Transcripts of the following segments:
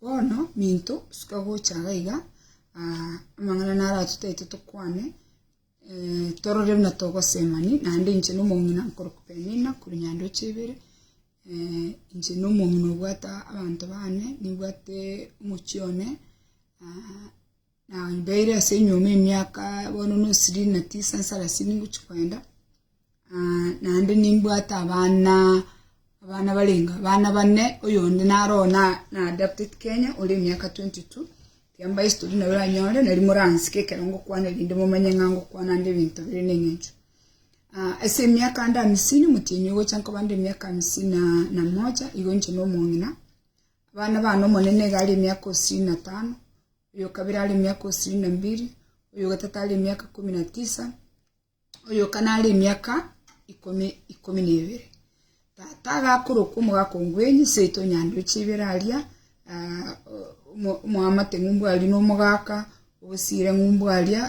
Bono, minto, suka gocha iga iga, amang'ana naro atotagete tokwane, torore buna togosema ime, naende inche na omong'ina nkorokwa Penina korwa Nyandoche ibere, inche na omong'ina obwate abanto bane, nibwate omochie one. Na ibaire ase enyuoma emiaka bono n'osirini na tisa nsarasini ngochia kwenda, ah, naende nimbwate abana abana barenga abana bane oyonde naro oo na na adapted Kenya ore emiaka twenty two, tiamba history nabo oranyore nari moransike ekero ngokwana erinde momanye ng'a ngokwana nde ebinto bire na eng'encho. Ah ase emiaka ande amisini omotienyi ogocha nkoba nde emiaka amisini na na moja igo inche na omong'ina, abana bane omonene iga are emiaka osini na tano, oyokabere are emiaka osirini na mbiri, oyogatato are emiaka ikomi na tisa, oyokana are emiaka ikomi ikomi na ebere. Tata agakorokwa omogaka ongwenyi, seito onyande oche ibere aria, ah, o- omo- omoamate ng'umbu aria na omogaka, ogosiire ng'umbu aria,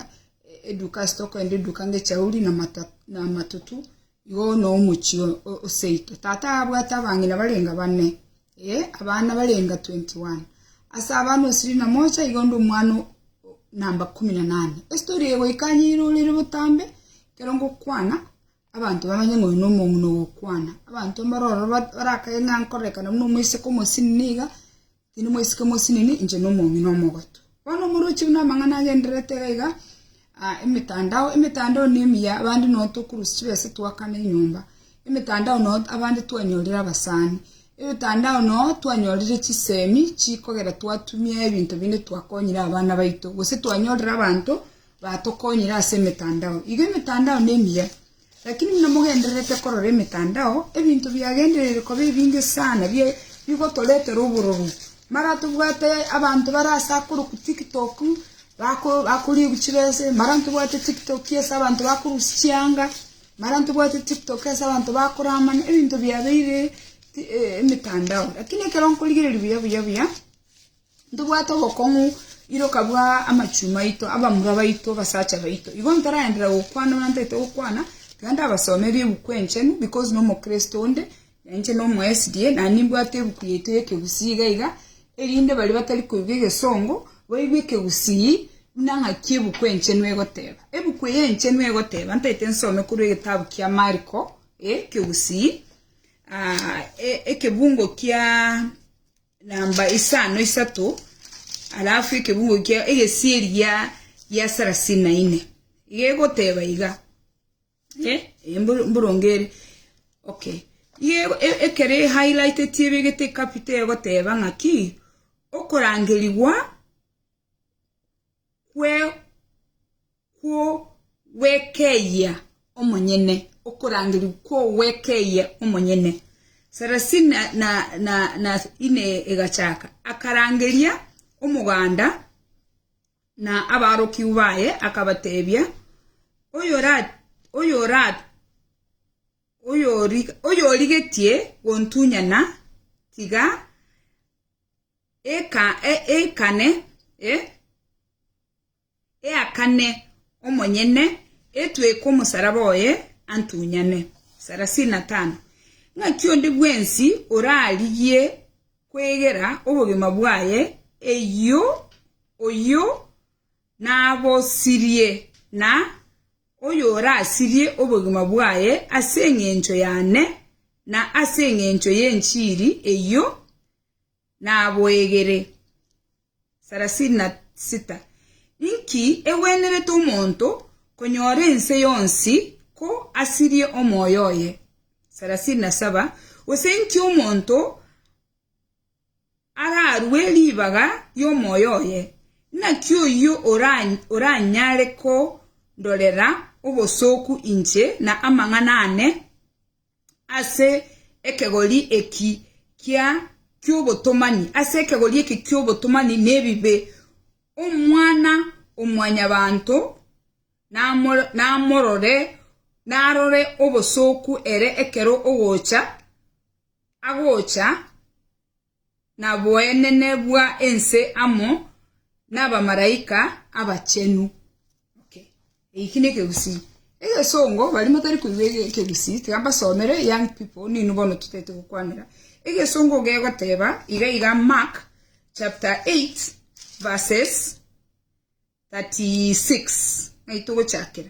e- eduka ase tokogenda eduka ngechauri na mata- na amatutu, Igo nomochie o seito. Tata abwate abang'ina barenga bane, ee, abana barenga twenty one. Ase abana osirie na mocha igo onde omwana namba ikomi na nane. Estori eye goika aye eirorire botambe, ekero ngokwana, abanto bamanye ng'a oyo nomong'ina ogokwana. Abanto mbare ororo barakae ng'a nkorerekana buna omoiseke omosinini iga, Tinimoisike mosinene, inche nomong'ina omogotu. Bono omorochi buna amang'ana agendererete iga iga, emetandao, emetandao nemiya, abande noo tokurusia chibesa twakana enyomba, emetandao noo abande twanyorire abasani, emetandao noo twanyorire chisemi chikogera twatumia ebinto binde twakonyire abana baito, gose twanyorire abanto batokonyire ase emetandao. Iga emetandao nemiya. Lakini buna mogendererete korora emetandao, ebinto biagendereire koba ebinge sana bigotoretera obororo. Mara tobwate abanto bare ase akorokwa TikTok bakoria chibese, mara tobwate TikTok ase abanto bakorusia chianga, mara tobwate TikTok ase abanto bakoramana, ebinto biabeire emetandao. Lakini ekero nkorigereria buya buya buya. Ntobwate obokong'u, iroka bwa amachuma aito, abamura baito, abasacha baito. Igo ntaraenderera gokwana buna ntaete gokwana, tiga ndabasome ebi'Ebuku Enchenu, because n'Omokristo onde, na inche nomo SDA, na nimbwate ebuku yaito y'ekegusii iga iga, erinde baria batari koigwa egesongo, baigwe ekegusii, buna ng'aki Ebuku Enchenu egoteba. Ebuku eye enchenu egoteba, ntaete nsome korwa egetabu kia Mariko, ekegusii, ekebungo kiaa. namba isano isato, alafu ekebungo kia egesieri gia gia sarasini na ine iga egoteba iga eh, eh, mbor- mboronge ere okay iga ego- e- ekero ehighlighteti ebegete ecapita egoteba ng'aki okorangerigwa kw'ogwekeyia omonyene, okorangerigwa kw'ogwekeyia omonyene. Saracen na ine egachaka, akarangeria omoganda na abaarokigwa baye, akabateebia, Oyorigetie gontunyana, tiga ateeme. eakane omonyene etweke omosaraba oye antunyane. Ng'aki onde bwensi orarigie kwegera obogima bwaye eyio, oyio nabosirie, na oyorasirie obogima bwaye ase engencho yane Na ase engencho y'enchiri eyio naboegere. 36 Inki egwenerete omonto konyora ense yonsi ko asirie omoyo oye? 37 Gose inki omonto ararue ribaga ri'omoyo oye? Naki oyio oranyare kondorera obosooku inche na amang'ana aane? ase ekegori eki kia ki'obotomani, ase ekegori eki ki'obotomani nebibe, Omwana-o-mwanyabanto namorore, narore obosooku ere ekero ogocha agocha. naboenene bwa ense amo nabamaraika abachenu. Okay. Eki nekegusii. Egesongo bari motari koigwa ekegusii tiga mbasomere young people ninu bono totete gokwanera. Egesongo gegoteba iga iga Mark chapter 8 verses 36 naitogochakera.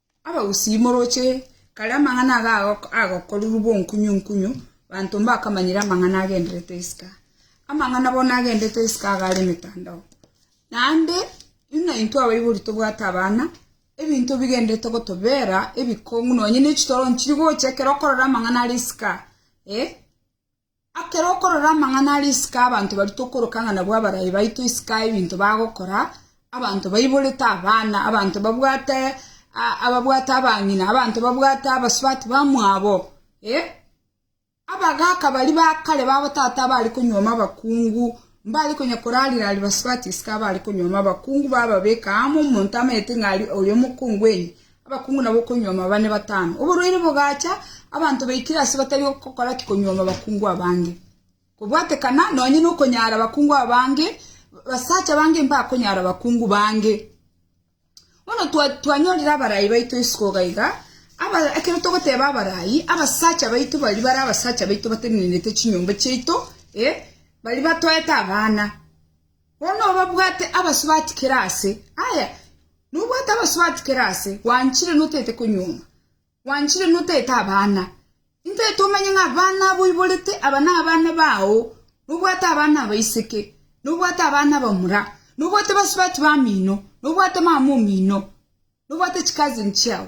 Abagusii, moroche kare amang'ana aga agokorerwa bw'onkunyunkunyu, banto mbakamanyire amang'ana agendererete isiko. Amang'ana bono agendererete isiko aga are emetandao. Naende buna intwe abaibori tobwate abana, ebinto bigendererete gotobeera ebikong'u, nonya ne chitoro nchiri gocha ekero okorora amang'ana are isiko, eh. Ekero okorora amang'ana aria isiko abanto baria tokoroka ng'a nabwo abarai baito isiko ebinto bagokora, abanto baiborete abana, abanto babwate ababwate abang'ina, abanto babwate abasubati bamwabo, eh, abagaka baria ba kare babotata abare konyuoma abakungu, mbare konya korariraria basubati isiko abare konyuoma abakungu bababeka amo, omonto amanyete ng'a aria oyo omokungu oino, Abakungu nabo okonyuoma bane batano. Oborwaire bogaacha, abanto baikire ase batari gokora ki konyuoma abakungu abange. Kobwatekana nonye nokonyaara abakungu abange, basacha bange mbakonyaara abakungu bange. Bono twanyorire abarai baito isiko iga iga, ekero togoteeba abarai, abasacha baito baria bare abasacha baito batenenete chinyomba chiaito, baria batoete abana. Bono obabwate abasubati kera aase. Aye, nobwate abasubati kera aase, gwanchire notaete konyuoma, gwanchire notaete abana. Intaete omenye ng'a abana aboiborete aba nabana bao, nobwate abana abaiseke, nobwate abana abamura, nobwate basubati bamino, nobwate mama omino, nobwate chicousin chiao.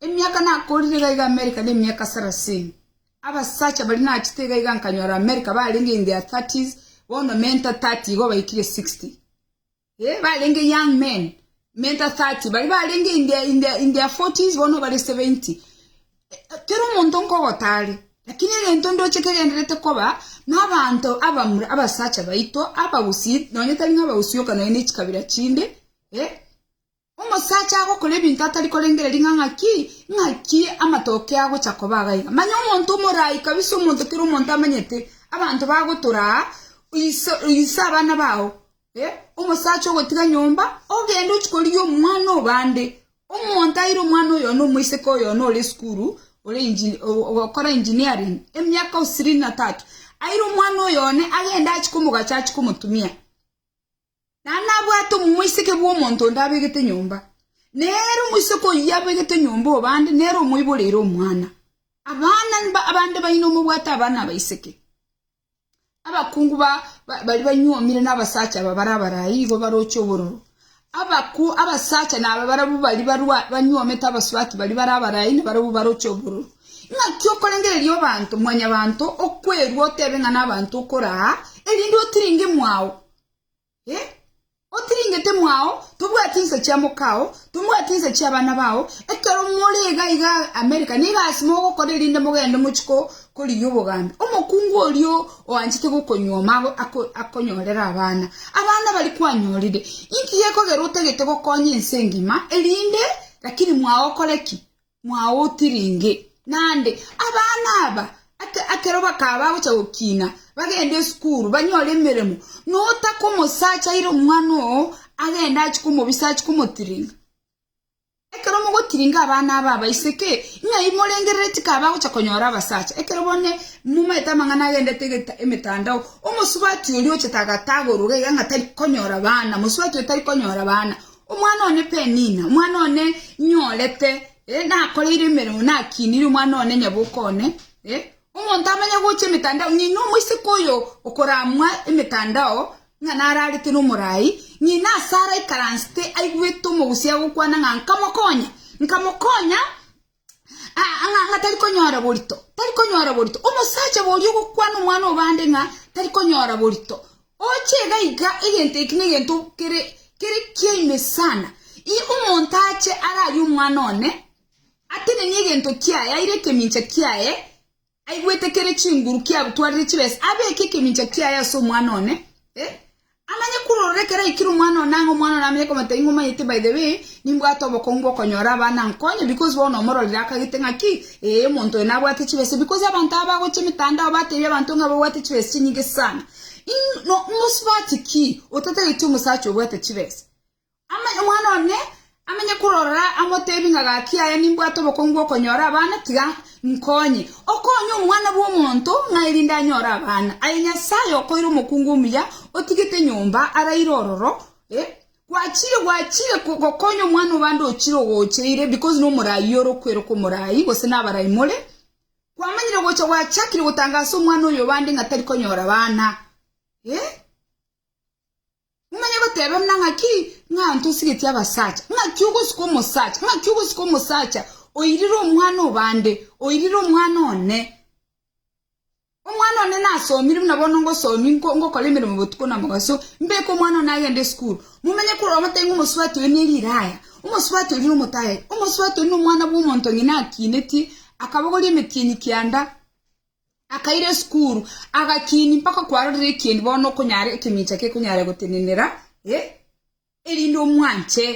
Emiaka nakorire iga iga Amerika nemiaka sarasini. Abasacha baria nachete iga iga nkanyora Amerika barenge in their thirties, bono menta thirty igo baikire sixty. Eh, barenge young men, menta thirty, baria barenge in their, in their, in their forties, bono bare seventy. Kera omonto nkogotare, lakini egento ndoche kegenderete koba, nabanto abamura, abasacha baito, abagusii, nonye tari ng'a abagusii oka, nonye nechikabira chinde, eh, Omosacha agokora ebinto atari korengereria ng'a ng'aki ng'aki amatoke agocha koba iga iga. Manya omonto omoraai kabisa omonto kera omonto amanyete abanto bagotora aa iso ise abana bao eh omosacha ogotiga nyomba ogende ochia korigia omwana obande omonto aire omwana oyono omoiseke oyono ore esukuru ore engi ogokora engineering emiaka osirini na tatu aire omwana oyo one agende achia komogacha achia komotumia. Naende nabwate omoiseke bw'omonto onde abegete nyomba, na ere omoiseke oyio abegete nyomba o bande nere omoiboreire omwana. Abana abande baino mobwate abana abaiseke. Abakungu baria banyuomire n'abasacha aba bare abarai igo baroche obororo. Abaku abasacha naba barabwo baria barwa banyuomete abasubati baria bare abarai na barabwo baroche obororo. Ing'aki okorengereria obanto, mwanyabanto, okwerua otebe ng'a nabanto okoraa, erinde otirenge mwao, Otiringete mwao, tobwati inse chia mokao, tobwati inse chia abana bao, ekero more iga iga America, nigo ase mogokora erinde mogende mochie ko korigia obogambi. Omokungu oria oanchete gokonyuoma ago ako akonyorere abana, abana bari kwanyorire. Inki gekogera otagete gokonya ense engima erinde lakini mwao okore ki? “Mwaotiringe! Naende abana aba, ekero bakaba bagochia gokina, bagende esukuru, banyore emeremo, notakomosacha aire omwana oo, agende achie komobisa, achie komotiringa. Ekero mogotiringa abana aba abaiseke, ng'a imorengerere tikaba bagochia konyora abasacha, ekero bono momanyete amang'ana agendete emetandao, omosubati oria ochete agatagorwa iga ng'a tari konyora bana, mosubati oyo tari konyora bana. Omwana one Penina, omwana one nyorete, nakoreire emeremo, nakiinire omwana one nyaboko one. Omonto amanye gocha emetandao, ng'ina omoiseke oyo okoramwa emetandao, ng'a nararete nomorai, ng'ina ase araikaransete aigwete omogusi agokwana ng'a nkamokonya, nkamokonya, ng'a tari konyora borito, tari konyora borito. Omosacha boria ogokwana omwana obande ng'a tari konyora borito, oche iga iga egento eki negento kere kere kia ime sana. Ii omonto ache ararie omwana one atenenie egento kiaye aire ekemincha kiaye. aigwete kere chinguru kiagutwarire chibesa, abeeke ekemincha kiaye ase omwana one, eh, amanye kurorora ekero aikire omwana one ang'e, omwana one amanye komata ing'o omanyete, by the way, nimbwate obokong'u bw'okonyora abana ankonye, because bono omororire akagete ng'a ki, ee, omonto oyo nabwate chibesa, because abanto aba bagocha emetandao bateebia abanto ng'a babwate chibesa chinyinge sana. In, no, mosubati ki otatageti omosacha obwate chibesa? Omwana one amenye korora amoteebie ng'a, Gaki yaya, nimbwate obokongu bw'okonyora abana, tiga nkonye. Okonye Omwana bw'Omonto ng'a erinde anyore abana. Aye Nyasae okoire omokungu omuya, otigete nyomba araire ororo, eh, gwachire, gwachire gokonya omwana o bande ochire ogocheire, because nomoraai ore okweroka omoraai, gose nabarai more, kwamanyire gocha gwachakire gotangasa omwana oyo o bande ng'a tari konyora abana, eh. Nonye goteba buna ng'aki ng'a ntosigetie abasacha, ng'aki ogosika omosacha, ng'aki ogosika omosacha oirire omwana obande, oirire omwana one. Omwana one nasomire buna bono ngosomi nko- ngokora emeremo botuko na mogaso, mbeke omwana one agende esukuru. Mumenye korwa omotebe ng'a omosubati oyo ne riraya, omosubati oyo ne omotayari, omosubati oyo nomwana bw'omonto ng'ina akinetie, akabogoria emetienyi kianda, Akaira esukuru, agakiini mpaka kwarorire ekiendi bono okonyara ekemincha kekonyara gotenenera, erinde omwanche.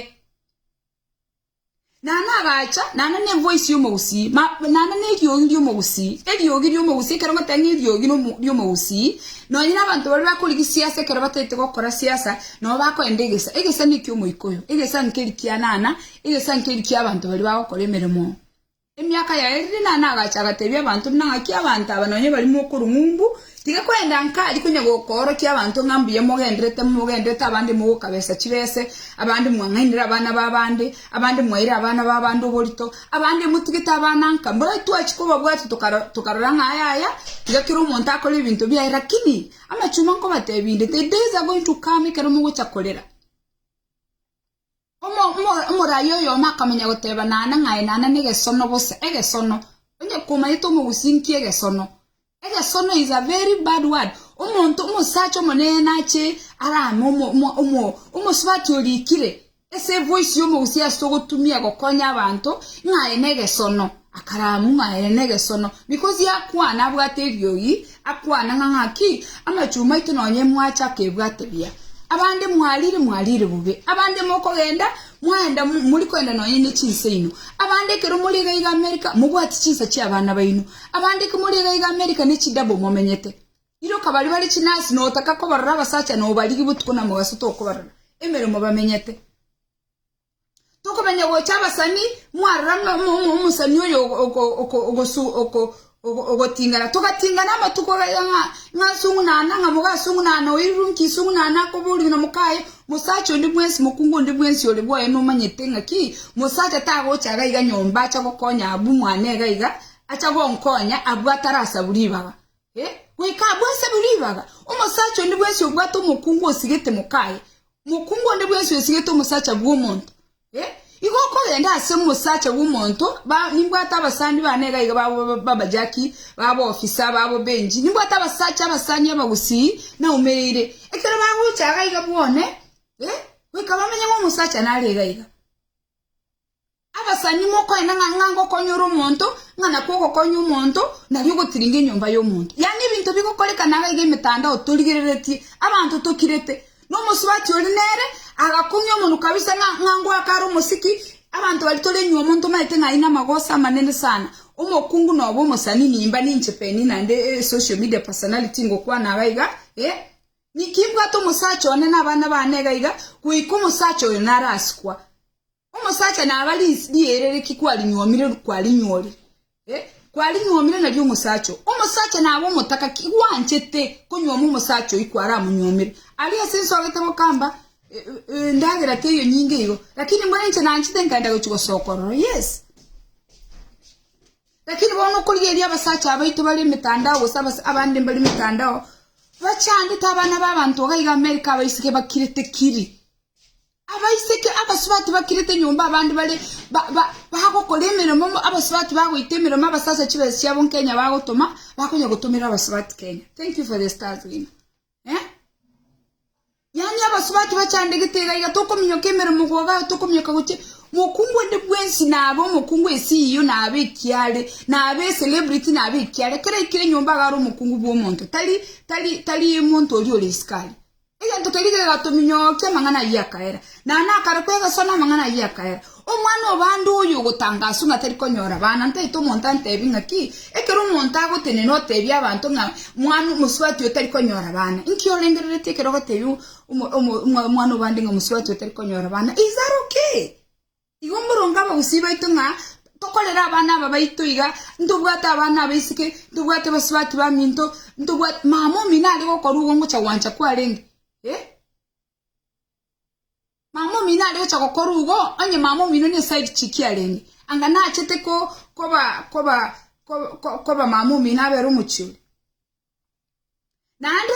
Naende agacha, naende nenvoice y'omogusii, naende neriogi ri'omogusii, eriogi ri'omogusii, ekero ngotebi ng'a eriogi ri'omogusii, nonye nabanto baria bakorigia siasa ekero bataete gokora siasa, nabo bakoenda egesa, egesa neki'omoika oyo, egesa nkeri kianana, egesa nkeri kiabanto baria bagokora emeremo. Emiaka yaerire Nana agacha agatebia abanto buna ng'aki abanto aba nonya bari mokorwa ng'umbu, tiga kwenda nkari konya gokoorokia abanto ng'a mbuya mogenderete, mogenderete abande mogokabesa chibese, abande mwang'ainire abana b'abande, abande mwaire abana b'abande oborito, abande motigete abana nka. Mbao twachia kobabwata tokarora ng'a aya aya, tiga kera omonto akore ebinto biaye. Lakini amachumba nkobatebie inde, the days are going to come ekero mogocha korera. Omo, omo, omoraai oyomo akamanya goteba, Naana ng'aye, naana negesono bosa, egesono. Onye komanyete omogusi nki egesono? Egesono is a very bad word. Omonto, omosacha omonene nache arame omo, omo, omo, omosubati orikire, ase evoice yomogusi ase ogotumia gokonya abanto, ng'aye negesono. Akaramua ere negesono, bikozi akwana abwate eriogi, akwana ng'a ng'aki, Amachuma aito nonye mwacha akebwate buya. Abande mwarire, mwarire bobe, abande mokogenda, mwaenda mori koenda nonye ne chinsa ino. Abande ekero mori iga iga Amerika, mobwati chinsa chi'abana baino. Abande eke mori iga iga Amerika ne chidabo momenyete. Iroka baria bare chinasi notaka kobarora abasacha nobarigia botuko na mogaso tokobarora, emeremo bamenyete. Tokomenya gocha abasani mwarora ng'a omosani oyo ogoting'ana. Togating'ana amatuko ng'a asung'unana, ng'a moga asung'unana, oyo irunki isung'unana akoboria ng'a mokaye, mosacha onde bwensi, mokungu onde bwensi ore bwoye nomanyete ng'a ki, mosacha tagocha iga iga nyomba acha gokonya abwo mwane iga iga, acha gonkonya abwo atarasabu ribaga. Goika abwo asabu ribaga, omosacha onde bwensi obwate omokungu osigete mokaye, Mokungu onde bwensi oesigete omosacha bw'omonto, igo okogenda ase omosacha bw'omonto, nimbwate abasani bane igaiga babo b'abajaki, b'aboofisa, b'abobenchi, nimbwate abasacha abasani abagusii naumereire, ekero bagocha iga iga bwone, goika bamenye ng'a omosacha nare iga iga. Abasani mokoenda ng'a ng'a ngokonyora omonto, ng'a nakwo ogokonya omonto, nario ogotiringa enyomba y'omonto. Yaani ebinto bigokorekana iga iga emetandao torigereretie, abanto tokirete. Na omosubati ore nere agakong'ia omonwa kabisa ng'a ng'a ngoaka are omosiki, abanto baria tore nyuma omonto omaete ng'a aine amagoso amanene sana. Omokungu nobe omosani nimba ninche Penina nde social media personality ngokwana iga iga, eh. Niki mbwate omosacha one na abana bane iga iga, goika omosacha oyo narasikwa. Omosacha naba riire riki kwarinyuomire kwarinyuori? Eh, kwarinyuomire nario omosacha. Omosacha naba omotaka ki gwanchete konyuoma omosacha oyi kwaramonyuomire. Ari ase nsogete gokamba ndagera teyo nyinge igo. Lakini mbona inche nanchete nkenda gochi gosokorora. Yes. Lakini bono okorigeria abasacha abaito bari emitandao gose abande mbari emitandao bachandete abana b'abanto iga iga Amerika abaisike bakirete kiri Abaiseke abasubati bakirete nyomba abande bare bagokora emeremo abasubati bagoita emeremo abasase chibesa chiabo nkenya bagotoma bakonya gotomera abasubati kenya thank you for the stars win eh yani abasubati bachandegete gaiga tokominyoka emeremo goga tokominyoka goche mokungu ande bwensi nabe omokungu esiyo nabe ekiare nabe celebrity nabe ekiare kera ikire nyomba agaro omokungu bwa omonto tari tari tari omonto oria ore isikari Egento keria kegatominyokia amang'ana ayio akaera, na nakarokwa egeso namang'ana ayio akaera. Omwana o bande oyo ogotanga aswe ng'a tari konyora abana, ntaete omonto antebie ng'a ki? Ekero omonto agotenena otebie abanto ng'a mwana omosubati oyo tari konyora abana. Inki orengereretie ekero ogotebia omwana o bande ng'a omosubati oyo tari konyora abana? Isaroke! Igo moronge abagusii baito ng'a tokorere abana aba baito iga, ntobwate abana abaiseke, ntobwate abasubati baminto, ntobwate mama omino are gokorwa igo ngocha gwancha kwarenge, eh. Mama omino are gocha gokorwa igo, onye mama omino ne side chick arenge, anga nachete ko koba koba koba mama omino abere omochie oria. Naende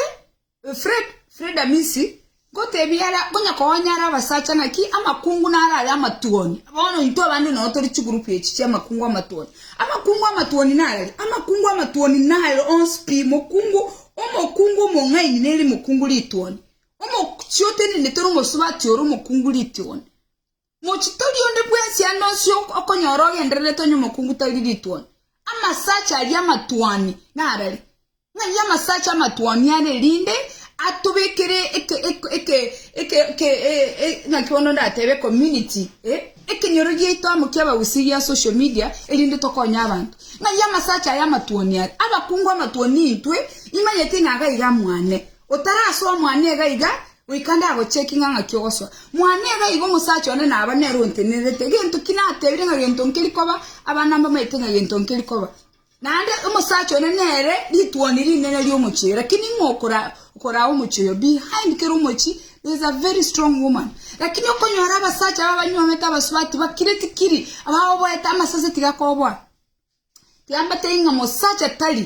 Fred Amisi, ngotebie ara, konya konya ara abasacha naki amakungu naro aye amatwoni. Bono intwe abande noyo tori chigroup echi chia amakungu amatwoni. Amakungu amatwoni nararia? Amakungu amatwoni nare onsi pi. Mokungu, omokungu omong'aini nere mokungu ritwoni. Omochio otenenete ore omosubati ore omokungu ritwoni. Mochitori onde bwensi ande onsi okonyora ogendererete onye omokungu tari rituoni. Amasacha aria amatuoni narari. Ng'ai amasacha amatuoni are rinde atobekere eke eke eke eke eke ng'aki bono ndatebe community ekenyoro giaito amo kia abagusii gia social media erinde tokonye abanto. Ng'ai amasacha aya amatuoni are? Abakungu amatuoni intwe imanyete ng'a iga iga mwane. Otarasoa mwane iga iga Goika ndagochie eking'ang'a ki'ogosoa mwane iga iga omosacha one naba nere ontenenerete, egento ki natebire ng'a gento nkeri koba, abana mbamaete ng'a gento nkeri koba. Naende omosacha one nere rituoni rinene ri'omochie, lakini ng'o okoraa omochie oyo? Behind kera omochie there is a very strong woman. Lakini okonyora abasacha aba abanywoomete abasubati bakire tikiri, abagoboete amasase tigakoboa. Tiambateiri ng'a mosacha tari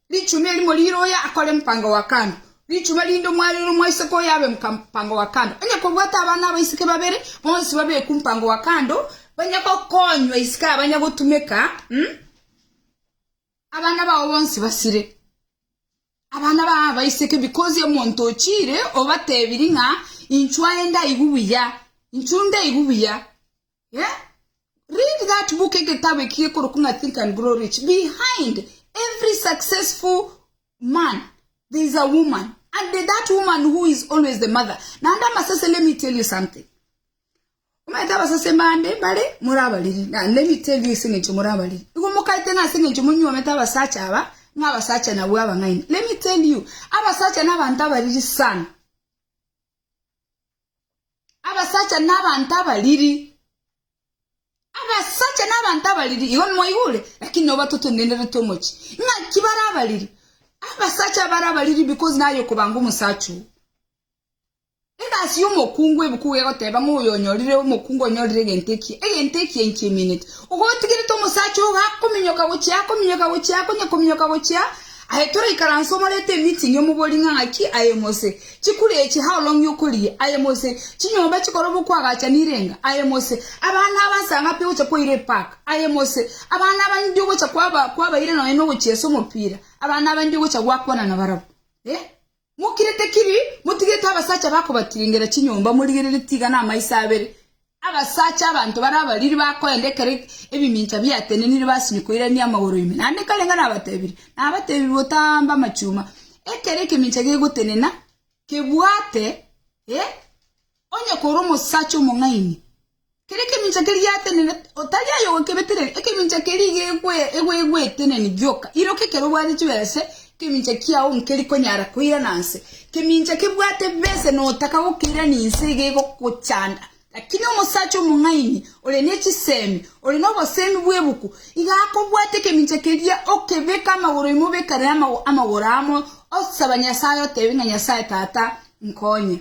Richuma erimo rire oyo akore mpango wa kando, richuma rinde omwarere omoiseke oyo abe mpango wa kando. Onye kobwate abana abaiseke babere, bonsi babekwe mpango wa kando, banye gokonywa isiko aya banye gotumeka, abana bao bonsi basire. Abana bao abaiseke because omonto ochire obatebiri ng'a inchuo aye ndaigu buya, inchuo ndaigu buya. Read that book Egeteabo eki gekorokwa ng'a Think and Grow Rich. Behind every successful man there is a woman and that woman who is always the mother. Naende amasase let me tell you something. Omanyete abasase bande bare muri abariri na let me tell you ase eng'encho muri abariri. Igo mokaete ng'a ase eng'encho monywomete abasacha aba ng'a abasacha nabwo abang'aini. Let me tell you abasacha nabanto abariri sana. Abasacha na abanto abariri, abasacha na abanto abariri, igo nimwaigure, lakini nabo batotendenerete omochie. Ng'aki bare abariri? Abasacha abare abariri because naye okobanga omosacha oo. Egasi y'omokungu ebukugu egoteba ng'a oyo onyorire omokungu onyorire egento ekiya, egento ekiya inki emineti? Ogotigerete omosacha ogo akominyoka gochia, akominyoka gochia, akonya kominyoka gochia, Aye toraikaranse omorete emeeting y'omobori ng'a ng'aki aye mose, chikuri echi how long you kuri aye mose, chinyomba chikorobwo kwagacha nirenga aye mose, abana aba nsa ng'api ogocha kwaira epark aye mose, abana aba ndi ogocha kwaba kwabaire nonye nogochiesa omopira, abana aba ndi ogocha gwakwana nabarabwo. Eh. Mokirete kiri, motigerete abasacha bakobatiringera chinyomba, morigerere tiga namaiso abere, abasacha abanto bare abariri bakoenda ekero ebimincha biatenenire basinywa koirania amagoro ime. Naende kare ng'a nabatebirie, nabatebirie botambe amachuma, ekero ekemincha gegotenena, kebwate, ee, onye korwa omosacha omong'aini. Kera ekemincha keria giatenenete, otari aye ogokebetereria, ekemincha keria igo egweteneni gioka. Iroka ekero obwate chibese, ekemincha kiao nkeri konyara koirana nse. Ekemincha kebwate bese na otaka gokeirani nse iga egogochanda. Lakini omosacha omong'aini, ore ne chisemi, ore nobosemi bw'ebuku, iga akobwata ekemincha keria, okebeke amagoro ime obekane namagoro amo, osaba Nyasae otebe ng'a Nyasae Tata, nkonye.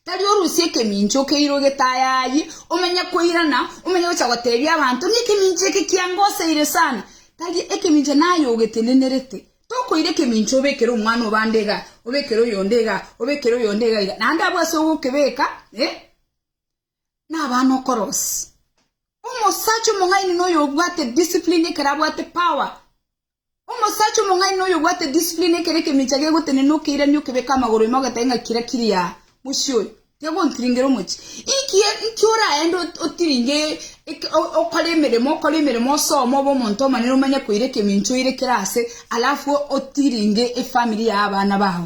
Tari orusie ekemincha okeire ogetayaayie, omenye koirana, omenye gocha goteebia abanto, ng'a ekemincha eke kiangoseire sana. Tari ekemincha naye ogetenenerete. Tokoira ekemincha obekere omwana obande iga, obekere oyonde iga, obekere oyonde iga iga, naende abwo ase ogokebeka, eh, nabana okorosia. Omosacha omong'aini noyo obwate discipline ekero abwate power. Omosacha omong'aini noyo obwate discipline ekero ekemincha gegotenena okeirania okebeka amagoro ime ogetae ng'a kira kiri aa mochie oyo tiagontiringera omochie. Inki inki oraende otiringe okore emeremo okore emeremo osome obe omonto omonene omanye koira ekemincha oire kere ase alafu otiringe efamiri ya abana bao.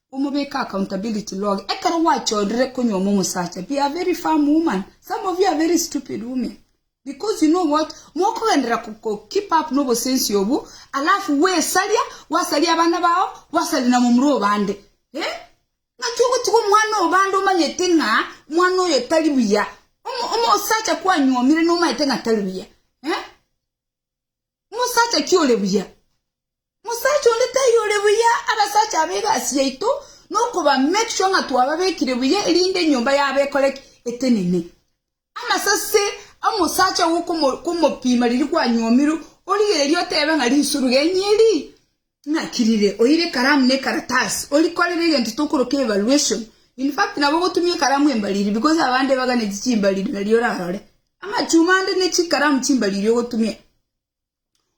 Omobeke accountability log ekero gwachorire konyuoma omosacha be a very firm woman some of you are very stupid women because you know what mokogenderera ko keep up no obosensi obwo alafu gwesaria gwasaria abana bao gwasaria na momura obande eh ngaki ogotiga omwana obande omanyete ng'a omwana oyo tari buya omosacha kwanyuomire nomanyete ng'a tari buya eh Mosacha ki ore buya? Mosacha onde tari ore buya. Abasacha aba egasi yaito nokoba make sure ng'a twababekire buya erinde enyomba yabo ekore ki? Etenene. Amasase omosacha gokomopima riria kwanyomirwe, origererie otebe ng'a rinswe origeni eri Naki rire oire ekaramu na ekaratasi, orikorere egento tokoroka evaluation. In fact, nabo ogotumia ekaramu embariri because abande ebaganeti chimbariri nario orarore amachuma ande ne chikaramu chimbariri ogotumia.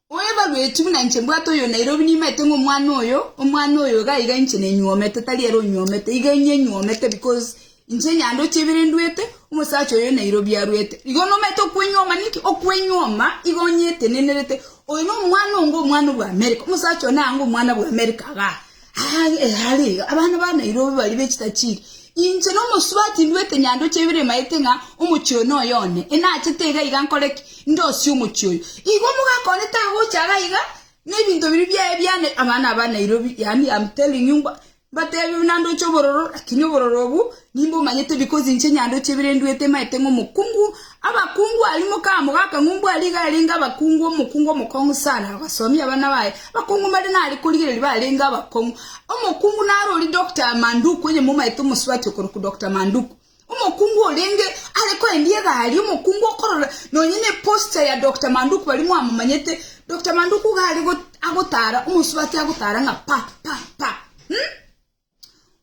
Oevaluate buna inche mbwate oyo Nairobi nimaete ng'a omwana oyo, omwana oyo iga iga inche nenyuomete tari ere onyuomete, iga inye nyuomete because Inche nyandoche ebere nduete, omosacha oyo nairobio aruete. Igo nomanyete okwenyuoma ninki? Okwenyuoma igo nyetenenerete. Oyo nomwana onga omwana bwa Amerika. Omosacha oyo naanga omwana bwa Amerika iga are iga. Abana ba Nairobi baria be chitachiri. Inche nomosubati nduete nyandoche ebere maete ng'a omochie oyo noyo one. Enachete iga iga nkore ki? Ndosie omochie oyo. Igo omogakone tagocha iga iga, nebinto biria biaye bia abana ba Nairobi yaani I'm telling you mba. Mbateebie buna ndoche obororo, lakini obororo obwo nimbomanyete bikosi inche nyandoche ebere nduete maete ng'a omokungu abakungu aria mokama ogaka ng'a ombua aria iga arenge abakungu omokungu omokong'u sana abasomi abana baye abakungu mbaria nare korigereria barenge abakong'u omokungu nare oria Doctor Manduku onye momaete omosubati okorokwa Doctor Manduku. Omokungu orenge are koendia egari, omokungu okorora nonye neposter ya Dokta Manduku baria mwamomanyete, Dokta Manduku iga are agotara omosubati agotara ng'a pa pa pa um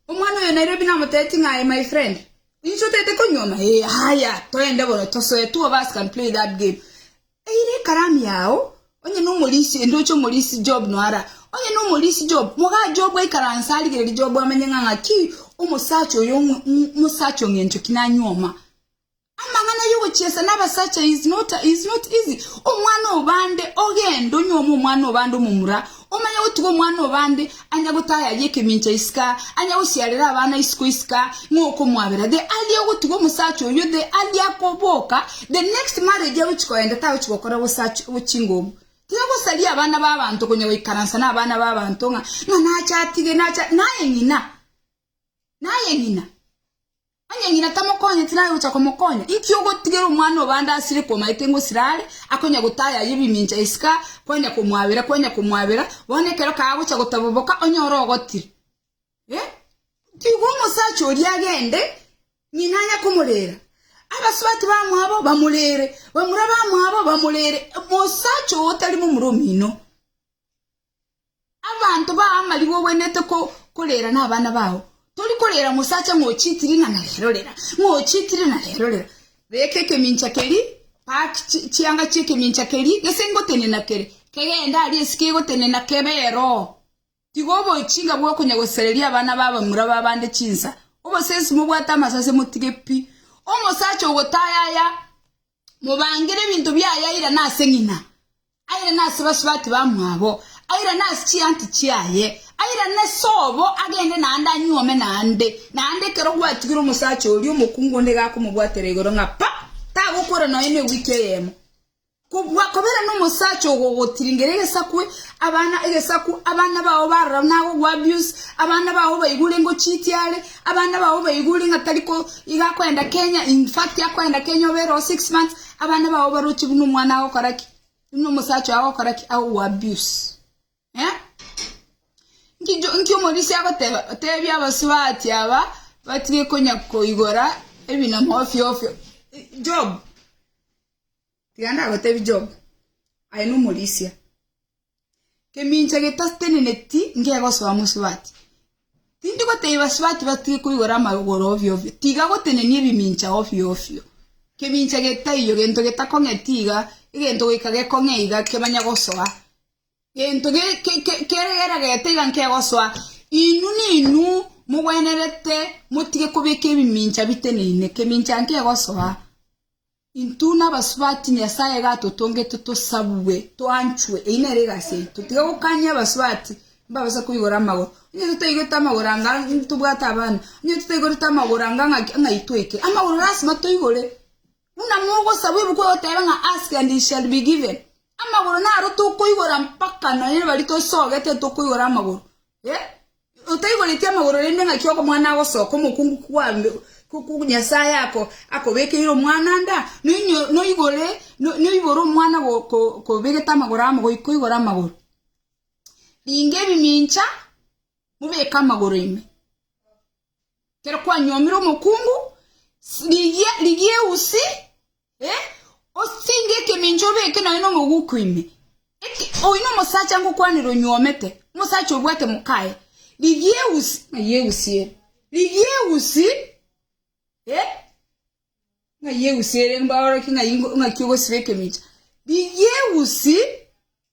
Omwana oyo Nairobi namotebetie ng'a aye my friend inche otete konyuoma ee haya toende bono tosoe two of us can play that game Eye nekaramu yao, onye nomorisi ende oche omorisi Job noara. Onye nomorisi Job, mogaa Job aikaranse arigererie Job amenye ng'a ng'aki omosacha oyo omosacha ong'encho ki nanyuoma. Amang'ana yogochiesa nabasacha is not is not easy. Omwana obande ogende onyuome omwana obande omomura, Omanye gotiga omwana obande anya gotayaria ekemincha isika, anya gosiarera abana isiko isika, ng'a okomwabera. The earlier ogotiga omosacha oyio, the earlier akoboka, the next marriage agochi koenda tagochi gokora gosacha chinguru. Tiga gosaria abana ba abanto konya goikaransa na abana ba abanto ng'a ng'a nache atige nache naye ng'ina naye ng'ina. Onye ng'ina tamokonye, tirabe gocha komokonya. Inki ogotigera omwana obande asire kw'omaete ngosira are, akonya gotaya aye ebimincha isiko kwanya komwabera, kwanya komwabera, bono ekero kagocha gotaboboka onye ore ogotire? Eh, tigwa omosacha oria agende, ng'ina anya komorera. Abasubati bamwabo bamorere, bamura bamwabo bamorere, mosacha oo otari momura omino. Abanto bao amarigwa ogwenerete korera nabana bao, tori korera mosacha ng'a ochitiri ng'a na rero rera, ng'a ochitiri na rero rera. Beka ekemincha keria, pack chianga chi'ekemincha keria gese ngotenena kere, kegende aria esike egotenena kebe ero. Tiga oboching'a bwo konya gosereria abana ba abamura ba bande chinsa, obosensi mobwate amasase motige pi. Omosacha ogotaya aya Mobangere ebinto biaye aira nase ng'ina, aira nase basubati bamwabo, aira nase chianti chiaye, aira nese obo agende naende anyuome naende, naende ekero gwatigire omosacha oria omokungu onde iga akomobwatera igoro ng'a pa, tagokwera nonya ne ewiki eyemo. Kobua kobera nomosacha ogogotiringera egesakwe, abana egesaku, abana bao barora nago gwa abuse, abana bao baigure ngochitia are, Abana bao baigure ng'a tari ko iga akoenda Kenya, in fact akoenda Kenya obe ere oo six months, abana bao baroche buna omwana agokora ki? Buna omosacha oye agokora ki? Agoku abuse. Eh? Nki jo, nki omorisia agoteba? Otebia abasubati aba batige konya koigora ebinamo ofio ofio. Eh, Job. Tiga nagoteebie Job, aye nomorisia, Kemincha getateneneti nkegosoa mosubati. Tindi goteebia basubati batige koigora amagoro ovio ovio, tiga gotenenia ebimincha ovio ovio. Kemincha getaiyo, gento getakong'e tiga, egento goika gekong'e iga kemanye gosoa. Gento keragete iga nkegosoa. Inwe ninwe mogwenerete motige kobeka ebimincha biteneine, kemincha nkegosoa. Intwe nabasubati, Nyasae iga atotongete tosabwe, toanchwe. Eyio nere egasi yaito, tiga gokania abasubati mbabase koigora amagoro. Onye totaigwete amagoro anga ntobwate abana, onye totaigorete amagoro anga ng'aki ng'ai toike? Amagoro lasima toigore. Buna mogosaba ebuku egoteba ng'a ask and it shall be given. Amagoro naro tokoigora mpaka nonye nabari tosogete tokoigora amagoro. Eh! Otaigoreti amagoro rende ng'aki okomwana agosoka omokungu kwa Nyasae akobekeire omwana nda? Noibore omwana kobegete amagoro amo goika oigore amagoro. Ringa ebimincha mobeke amagoro aino. Ekero kwanyuomire omokungu rigia eusi Osenge ekemincha obeke nonya nomoguko ime, oyio omosacha ngokwanera onyuomete, omosacha obwate mokaye, rigiee usi, ng'ai eusi ere, rigiee usi, ng'ai eusi ere mbaorokie ng'ai ng'aki ogosiba ekemincha, rigiee usi.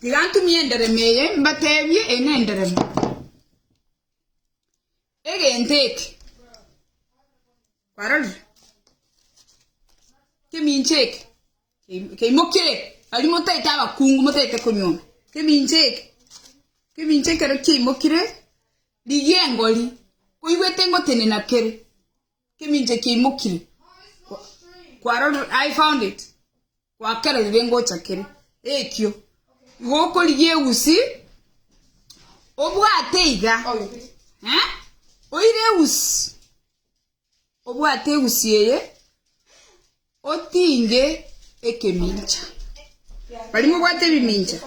Tiga ntumie enderemo eye, mbateebie, Eye nenderemo y'egento eke. Kwarorire? Kemincha eke ke- keimoke, aria motaete abakungu motaete konyora. Kemincha eke, kemincha ekero kiaimokire, rigia engori, koigwete engotenena kere, kemincha kiaimokire. Kwa- kwarorire? I found it. Gwakererire ngocha kere ekio, igo okorigia eusi, obwate iga, eh? oire eusi, obwate eusi eye, otinge ekemincha. Bari mobwate ebimincha,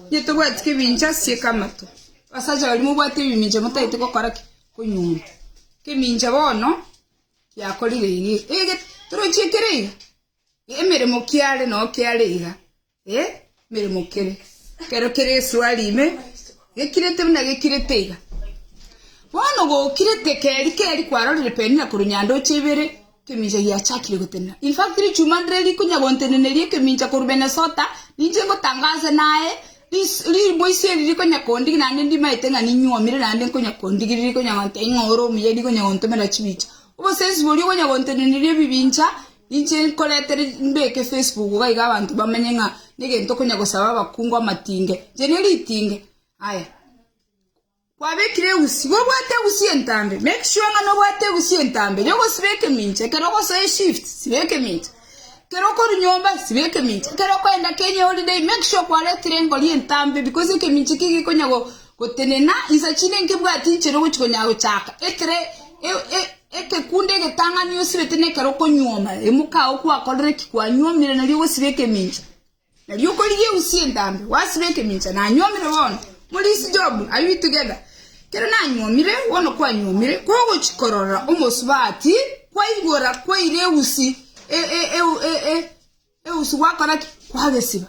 inye tobwati kemincha sie kamato. Abasacha bari mobwate ebimincha motagete gokora ki? Konyunyunta. Kemincha bono kiakorire iga, ege torochie kere iga, Emeremo kiare no kiare iga e meremo kere kero kere esuari ime gekirete buna gekirete iga bono gokirete keri keri kwarorire penina kuru nyandoche ibere kemincha giachakire gotenena in fact richuma ndire rikunya gonteneneria ekemincha kuru Minnesota ninche ngotangaze naye riboisi eri rikonya kondigia naende ndimaete ng'a ninyuomire naende nkonya kondigia rikonya gontebi ng'a ore omuya rikonya gontomera chibicha obosensi boria okonya gonteneneria ebibincha. Ninche nkorete mbeke Facebook gaiga abanto bamenye ng'a negento okonya gosaba abakungu amatinge. Inche nigo ritinge. Aya. Kwabekire egusi. Igo obwate egusi entambe. Make sure ng'a nobwate egusi entambe yogosiba ekemincha. Ekero ogosoa eshift, siba ekemincha. Ekero okorwa nyomba, siba ekemincha. Ekero okoenda Kenya eholiday, make sure kwaretire engori entambe bikos ekemincha ekio gekonya gotenena insa chinde nkebwati inchera ogochi konya gochaka. Ekere e-e. Ekekunde egetang'ani osibete nekero okonyuoma, emoka agwo kwakorire ki? Kwanyuomire, nario ogosiba ekemincha. Nario okorigia eusi entambe, gwasiba ekemincha. Nanyuomire bono. Morisi Job, are we together? Kero nanyuomire, bono kwanyuomire, kogochia korora omosubati, kwaigora kwaire eusi, e, e, e, e, e, Eusu gwakora ki? Kwagesiba.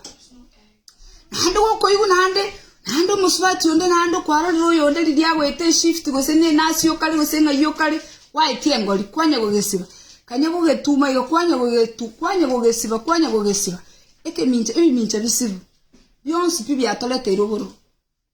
Naende gokoigwa naende, naende omosubati onde naende okwarorire oyonde riria agwete eshift gose ne nasi okare gose ng'ai okare, kwaetia engori, kwanya gogesiba. Kanya gogetuma iga kwanya gogetu kwanya gogesiba kwanya gogesiba. Ekemincha ebimincha bisibu, bionsi pi biatoreteirwe oborobwo.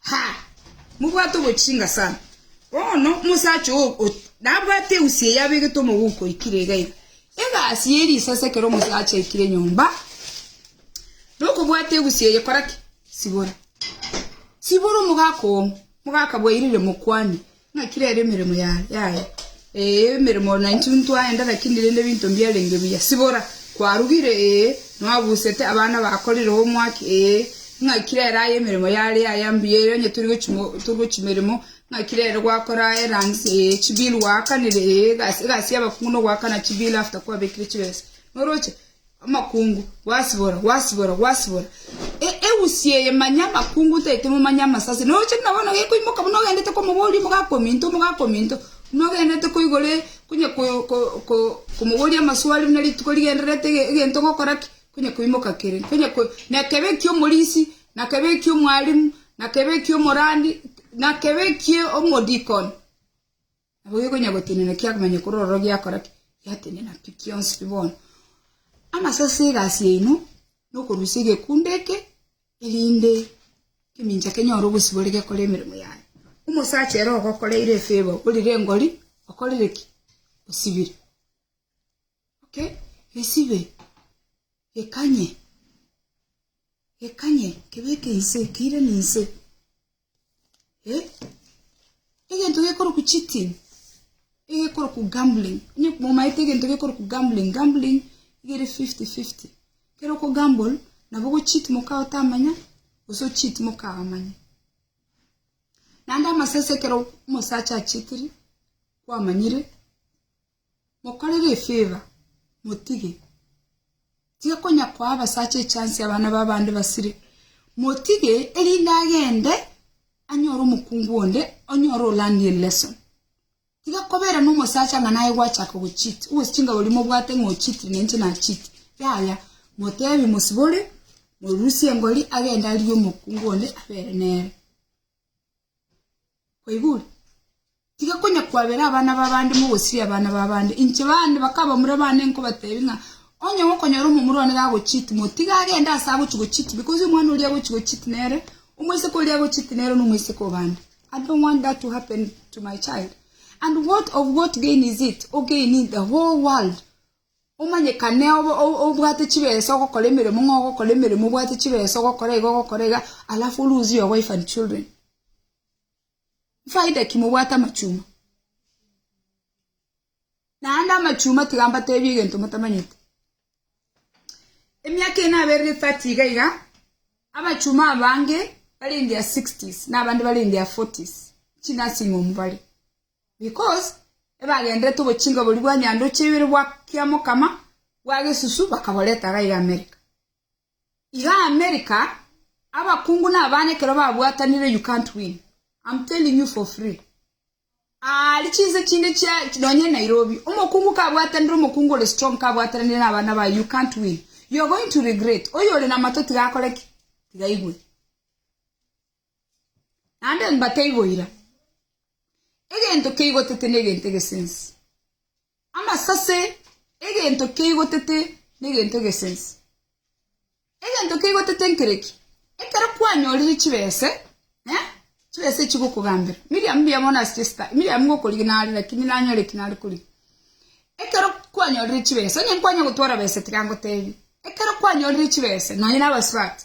Ha! Mobwate obochinga sana! Bono omosacha oo nabwate eusi eye abegete omogooko oikire iga iga. Egasi ye risasi ekero omosacha aikire nyomba, nokobwata egusi eye kora ki? Sibora. Sibora omogaka oo, mogaka bwairire mokwani, Naki rero emeremo yaye, ee, emeremo naintwe ntwaenda, lakini rende ebinto mbiarenge buya. Sibora, kwarugire, ee, nwabusete, abana bakorire homework, ee, ng'aki rero aye emeremo yare aya mbuya, ere onye tori gochi mo tori gochi meremo, ng'aki rero gwakora errands, ee, chibill gwaakanire, ee, egasi egasi y'abakungu nogoakana chibill after kwabekire chibesa. Noroche? Amakungu, gwasibora, gwasibora, gwasibora. E- egusi eye manya amakungu ntaete momanye amasase. Noche buna bono gekoimoka buna ogendete komoboria omogaka ominto, omogaka ominto, buna ogendete koigoro e- konya ko- ko- ko- komoboria amaswali buna rituko rigendererete ege- egento gokora ki? Konya koimoka kere. Konya ko- nekebe ekia omorisi, nakebe ekia omwalimu, nakebe ekia omorandi, nakebe ekia omodikon. Nabo gekonya gotenena kiakomanya korwa ororo giakora ki? Giatenena pi kionsi pi bono. Amase ase egasi yaino nokorusia egekundo eke erinde ekemincha kenyore obosibore gekore emeremo yaye. Omosacha ere ogokoreire efavor orire engori okorire ki? Osibire. Okay? Gesibe. Gekanye. Gekanye. Kebeke inse. Keiranie inse. Egento gekorokwa cheating, egekorokwa gambling, onye momaete egento gekorokwa gambling, gambling nigo ere fifty fifty, ekero oko gamble nabo ogocheat mokao otamanya gose ocheat mokao amanya. Naende amasese ekero omosacha acheatire kwamanyire. Mokorere efever, motige. Tiga konya koa abasacha echansi abana b'abande basire. Motige erinde agende anyore omokungu onde onyore olandi elesson. Tiga kobera nomosacha ng'a naye gwachaka gocheat. Obosi chingabo riria mobwate ng'a ocheat na inche nacheat. Yaya, motebi mosibore, morusie engori agende arigie omokungu onde abere nere. Kwaigure? Tiga konya kwabera abana b'abande mogosiria abana b'abande. Inche bande bakabamura bande nkobatebia ng'a onye gokonyora omomura one gagocheat, motige agende aase agochi gocheat because omwana oria agochi gocheat nere, omoiseke oria agocheat nere na omoiseke o bande. I don't want that to happen to my child. And what of what gain is it? Ogain the whole world. Omanyekane obwate chibesa ogokora emeremo ng'a ogokora emeremo obwate chibesa ogokora iga ogokora iga alafu o lose your wife and children. Faida ki mobwate amachuma? Naende amachuma tiga mbatebie egento motamanyete. Emiaka eye naberire thirty iga iga, amachuma abange bare in their sixties na abande bare in their forties, chinursing home bare. Because ebagenderete obochinka boria bwa nyandoche ibere bwa kiamokama bwa gesusu bakaboreta gaiga America. Iga America abakungu na abana ekero babwatanire you can't win am telling you for free aari chinse chinde chia nonye Nairobi omokungu kabwatanire omokungu ore strong kabwataranire na abana baye you can't win you are going to regret oyore na amato tiga akore ki tiga aigwe naende mbateigwe ira. Egento keigotete negento egesense. Amasase egento keigotete negento egesense. Egento keigotete nkereki? Ekero kwanyorire chibese, eh, chibese chigokogambera. Miriam mbuya bono ase chesita, Miriam ngokorigia nare lakini nanyore ki nare korigia. Ekero kwanyorire chibese, onye nkwanya gotwara bese tiga ngotebi. Ekero kwanyorire chibese, nonye nabasubati.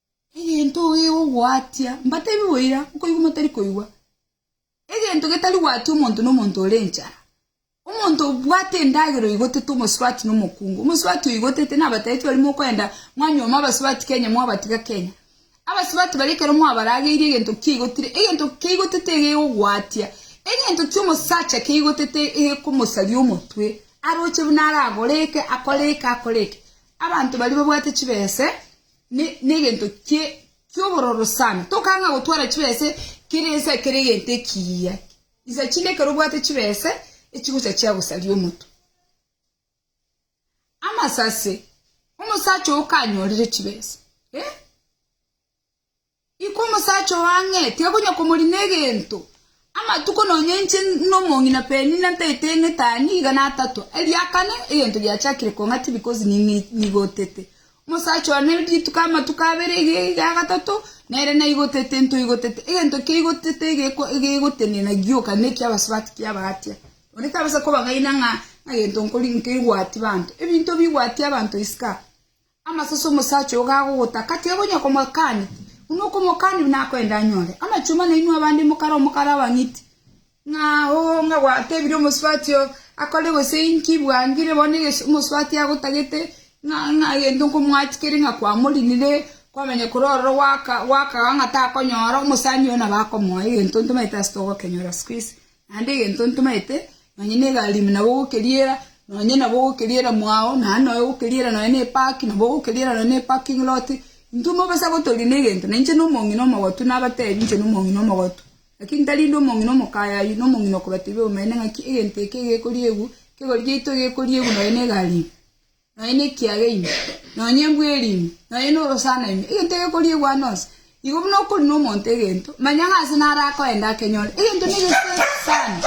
Egento gegogwatia, mbatebi boira, okoigwa motari koigwa, egento getari gwatia omonto nomonto ore enchara. Omonto obwate endagera oigotete omosubati nomokungu. Omosubati oigotete nabatebi bari mokoenda mwanyoma abasubati Kenya mwabatiga Kenya. Abasubati baria ekero mwabarageirie egento kiaigotire, egento kiaigotete egegogwatia. Egento kiomosacha kiaigotete egekomosaria omotwe, aroche buna aragore eke, akore eke, akore eke. Abanto baria babwate chibese, Negento ki'obororo sana tokanga gotwara chibesa ekero ense ekero egento ekiya. Insa chinde ekero obwate chibesa echigocha chiagosaria omotu. Amasase, omosacha oyo kanyorire chibesa. Naboigo omosacha oo ang'e tiakonya komorina egento, amatuko nonya inche nomong'ina Penina ntaete eng'ete aa niga natatua, erio akane, egento giachakire kong'ati because nigotete. Omosacha one rituko amatuko abere iga agatato nere naigotete ntoigotete, egento kiaigotete gegotenena gioka nekia abasubati kiabagatia. Onde tabasa kobang'aina ng'a egento nkori nkerigwati banto, ebinto bigwati abanto isiko aa. Amache ase omosacha oyo gagogotaka, tiga konya komoakania, buna okomoakania buna akoenda anyore amachumba nainwe abande mokare omokare abang'iti, ng'a oo ng'a gwatebire omosubati oo akore gose inki, bwangire bono eges omosubati agotagete ng'a ng'a egento nkomoachi kere ng'a kwamorinire, kwamanya korwa ororo gwaka gwakaga ng'a takonyora, omosani oyo nabo akomoa egento ntomaete ase togokenyora sikuizi. Naende egento ntomaete, nonya negalimi nabo ogokeriera, nonya nabo ogokeriera mwao, naende nonya ogokeriera nonya ne park, nabo ogokeriera nonya ne parking lot, intwe mobasa gotoria na egento, na inche na omong'ina omogotu nabatebi inche na omong'ina omogotu, lakini tari inde omong'ina omokayayi, na omong'ina okobatebia obomaene ng'aki egento eke gekoriegwa, kegori giaito gekoriegwa nonya negalimi. nonya nekiaga ime, nonya embweri ime, nonya norosana ime, egento egekoriegwa ane onsi, igo buna okori nomonto egento, manya ng'a ase naro akoenda akenyore. Egento na egesense sana.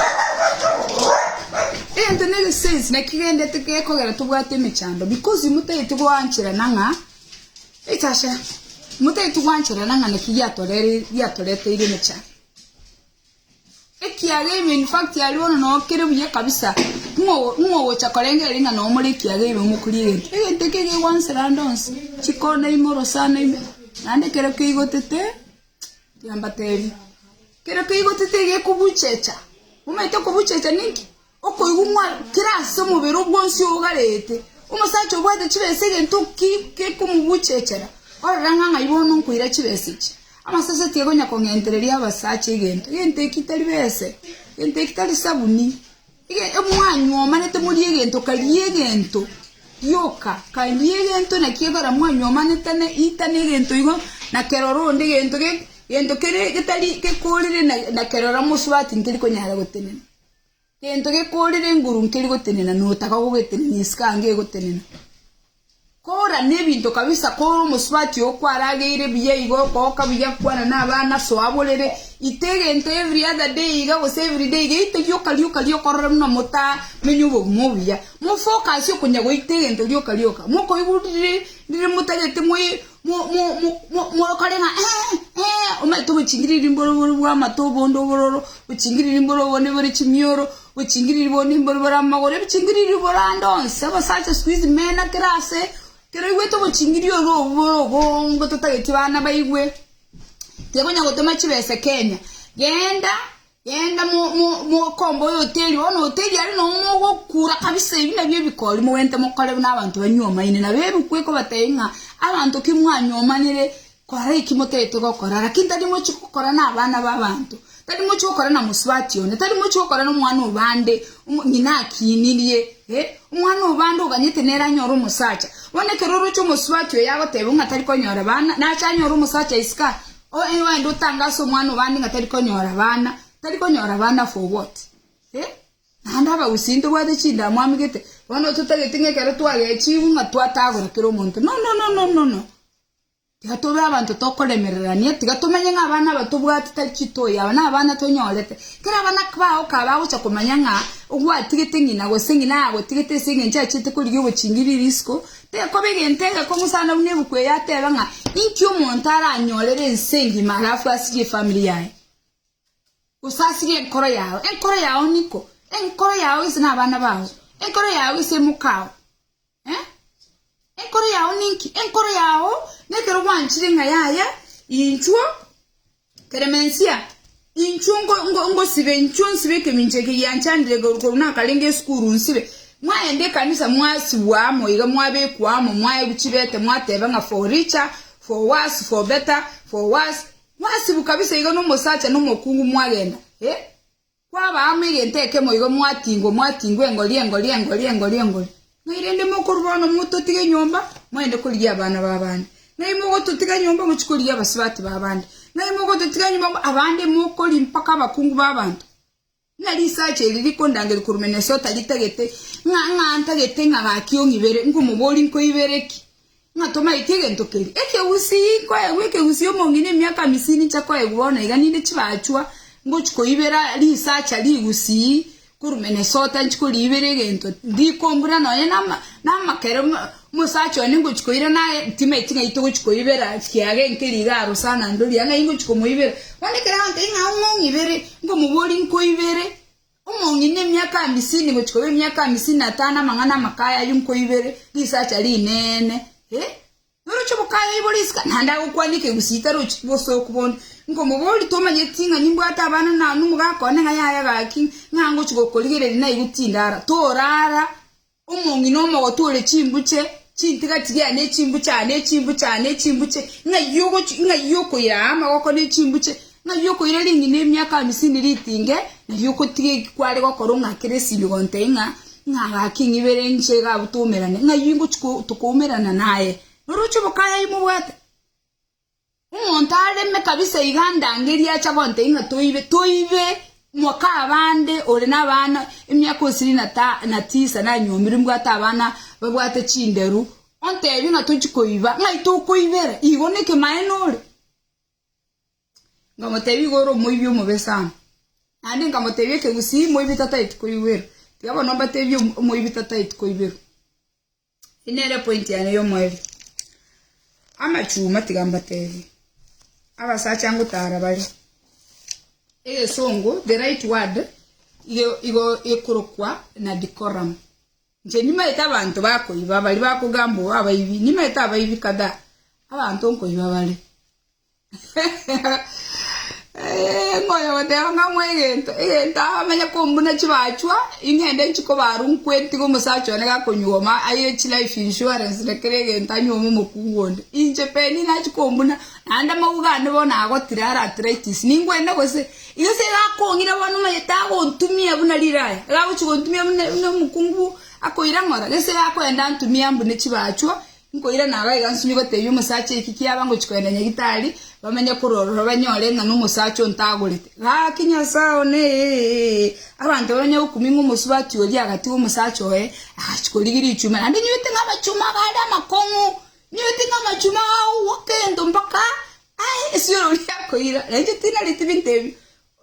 Egento na egesense naki gendete gekogera tobwate emechando because motageti goancherana ng'a echi ase motageti goancherana ng'a naki giatoreri giatoreteire emechando. Ekiaga ime in fact aria bono no kere buya kabisa ng'o ng'o gocha korengera eri ng'a no more ekiaga ime omokuri egento egento eke ege gwansa rande onsi chikona ime orosana ime naende ekero keigotete tiambatebi ekero keigotete gekobuchecha omanyete okobuchecha ninki. Okoigwa ng'a kera ase omobere o bwonsi ougarete, omosacha obwate chibesa egento ki gekomobuchechera? Orore ng'a ng'ai bono nkoira chibesa echi! Amasase tiakonya kong'entereria abasacha egento, egento eki tari bese, egento eki tari sabuni. Ege, mwanywa omanete morie egento, karia egento, rioka karia egento, naki ekogera mwanywa omanetane itana egento igo, na kerore onde egento ge egento kere getari gekorire na na kerore amosuba atinkeri konyara gotenena. Gento gekoorire enguru nkeri gotenena, notaka gogetenenia isiko ange egotenena. Koorana ebinto kabisa, kore omosubati oo kwarageire buya igo okogoka buya kwana na abana soa borere, ita egento every other day iga gose every day iga ita rioka rioka rioka orore buna motamenya obogima obuya. Mofocus okonya goita egento rioka rioka, mokoigwa riri riri motagete moi mogokore ng'a omaete obochingiriri mboro bore bw'amato obonde obororo, obochingiriri mboro obonde bore chimioro, obochingiriri bonde mboro bore amagoro, obochingiriri bore ande onsi. Abasacha sikuizi mena kera ase, kero oigwete obochingiri oro obo bore obongo totageti bana baigwe, tibakonya gotema chibesa Kenya. Genda. Genda mokombe oyoteri oo na oyoteri aria, nonya mogokura kabisa, ebi nabio ebikori mogwente mokore buna abanto banyomaine. Nabo eruku ekobatebia ng'a abanto ki mwanyomanire kora eki motagete gokora, lakini tari mochi gokora na abana b'abanto, tari mochi gokora na mosubati one, tari mochi gokora na omwana o bande, omo ng'ina akinirie, eh, omwana o bande oganyete nere anyore omosacha. Bono ekero oroche omosubati oyo agoteba ng'a tari konyora bana, nache anyore omosacha isiko aa, Onye noende otange ase omwana obande ng'a tari konyora abana, tari konyora abana for what? Eh? Naende abagusii ntobwate chindamu amegete, bono totagete ng'a ekero twagechigwe ng'a twatagora kera omonto. No, no, no, no, no, no. Tiga tobe abanto tokoremererania, tiga tomenye ng'a abana aba tobwate tari chitoyi, aba nabana tonyorete. Kera abana bao kaba bagocha komanya ng'a ogwatigete ng'ina gose ng'ina agotigete ase eng'encho achiete korigia obochingirie risiko, Tekoba egento ege komosana buna ebuku eye atebe ng'a inki omonto aranyorere ense engima alafu asirie efamiri yaye, gose asirie enkoro yao. Enkoro yao niko? Enkoro yao gese nabana bao? Enkoro yao gese mokao? Eh? Enkoro yao ninki? Enkoro yao nekero gwanchire ng'a yaya inchuo Klemensia, inchuo ngosibe, inchuo nsibe ekemincha eke gianchandire korwa nakarenge esukuru nsibe, mwaenda ekanisa mwasibwa amo iga mwabekwa amo mwaewu chibete mwateba ng'a for richer, for worse, for better, for worse, mwasibwa kabisa iga na omosacha na omokungu mwagenda, eh. Kwabaa amo egento ekemo igo mwatingwa, mwatingwa engori, engori, engori, engori, engori. Ng'ai rende mokorwa bono mototiga enyomba, moende korigia abana b'abande? Ng'ai mogototiga enyomba mochie korigia abasibati b'abande? Ng'ai mogototiga enyomba mbo abande mokori mpaka abakungu b'abanto? Ng'a risacha eri rikondangeria korwa Minnesota ritagete ng'a ng'a ntagete ng'a gaki ong'ibere, nkomoboria nkoibere ki? Ng'a tomaete egento keria. Ekegusii, nkoegwa ekegusii omong'ina emiaka amisini inche koegwa bono iga ninde chibachwa ngochi koibera risacha rigusii korwa Minnesota inchi koriibera egento ndikombura nonya nama namakere omosacha one ngochi koira naye timaeti ng'ai togochi koibera kiaga enkeri iga arosana ndoria ng'ai ngochi komoibera bono ekero agantebi ng'a ong'ong'ibere nkomoboria nkoibere Omong'ina emiaka amisini gochia koba emiaka amisini na tano amang'ana amakaya ayio nko ibere risacha rinene, e, noroche obokaya oibo risika, naende agokwana ekegusii tarochi bosooku bonde. Nkomoboria, Tomanyeti ting'ani mbwate abana naanu, mogakoone ng'a yaya gaki, ng'a ngochia gokorigereria naigwe tindara, toraara Omong'ina omogotu ore chimbuche, chintigatigi aya ne chimbuche aya ne chimbuche aya ne chimbuche, ng'ai ogochi ng'ai okoira aa amagoko ne chimbuche, ng'ai okoira ring'ina emiaka amisini ritinge, ng'ai ogotiga eki kware gokora ong'akere esimigonto eye ng'a ng'a gaki ng'ibere nche iga abwo twoumerane, ng'ai ngochi ko tokoumerana naye? Noroche boka aye mobwate? Omonto areme kabisa iga ndange eria acha gonte ing'a toibe, toibe, mwaka abande ore na abana emiaka osiri na ta na tisa na nyombiri mbwate abana babwate chinderu ontebie ng'a tochi koiba ng'ai tokoibera igo ne kemaene ore. Nkamotebia igo ore omoibi omobe sana. Naende nkamotebia ekegusii moibi tataeti koiwera. Tiga bono mbatebie omoibi tataeti koiberwa. Eyio nere point yane yomoerio. Amachuma tiga mbatebie. Abasacha ngotara bare. Egesongo the right word igo igo ekorokwa na decorum. Nche nimaete abanto bakoiba bari bakogamba obo abaibi. Nimaete abaibi kadhaa. Abanto nkoiba bare. Ngonya goteba ng'a amoe egento, egento aye amenye kombuna chibachwa, ing'ende nchi kobaru nkwetiga omosacha one gakonyuoma aire chi life insurance na kera egento anyuome omokungu onde. Inche Penny nachi kombuna naende amauga ande bono agotira are arthritis ningwende gose? Igo ase gakong'ira bono omanyete agontumia buna riraya, iga agochi gontumia buna buna omokungu akoirang'ora, gese akoenda antumie ambune chibachwa Nkoirana aro iga nsimie gotebia omosacha eki kiaba ngochia kogenda Nyagitari, bamenye korwa ororo banyore ng'a nomosacha ontagorete. Gaki Nyasae one, abanto bamanye gokumia ng'a omosubati oria agatigwa omosacha oye, agachia korigia richuma, naende nyoigete ng'a amachuma abo are amakong'u, nyoigete ng'a amachuma agogwoka egento mpaka ae esiororo riakoira. Na inche tinareti binto ebi,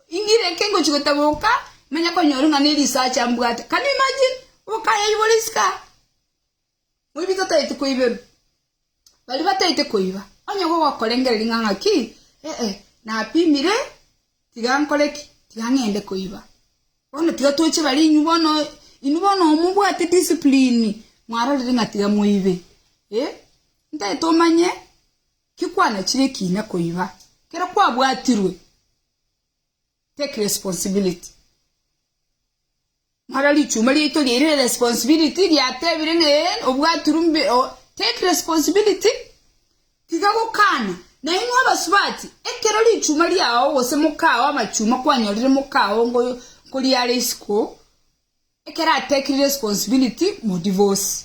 ingire eke ngochia gotaboka, manya konyora ng'a nerisacha mbwate. Can you imagine? Obokayoyia bore isiko aa. Moibi totaeti koiberwa. Baria bataeti koiba, onye gogokorengereria ng'a ng'aki, ee, napimire, tiga nkore ki? Tiga ng'ende koiba. Bono tiga toche bare inwe bono, inwe bono omobwate discipline, mwarorire ng'a tiga moibe. Ee, ntaeti omanye ki kwanachire ekiina koiba, kero kwabwatirwe. Take responsibility. Mara richuma riaito riaire responsibility riatebire ng'a ee obwaturwe mbe o take responsibility tiga gokana. Nainwe abasubati, ekero richuma riao gose mokao amachuma kwanyorire mokao ngo nkoriare isiko, ekero atekire responsibility modivosi.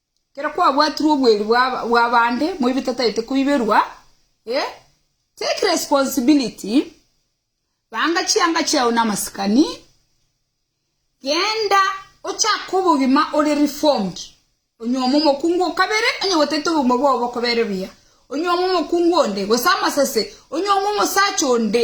Ekero kwabwatirwe obweeri bw'abande moibe tataete koiberwa, eh, take responsibility, banga chianga chiao namasikani, genda ochake obogima ore reformed, onyuome omokungu o kabere onye gotete obogima bwao bokobere buya, onyuome omokungu onde gose amasase, onyuome omosacha onde.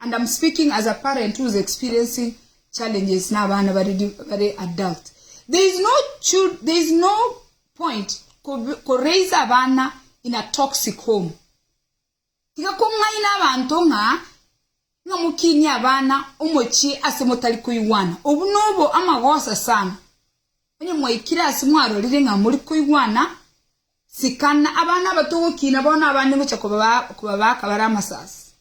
and I'm speaking as a parent who is experiencing challenges na abana bare adult, there is no there is no point ko raise abana in a toxic home, tiga kong'aina abanto ng'a ng'a mokinie abana omochie ase motari koigwana, obwo nobo amagosa sana, onye mwaikire ase mwarorire ng'a mori koigwana. Sikana abana aba togokina bono abande ngocha kobabaka bare amasasi.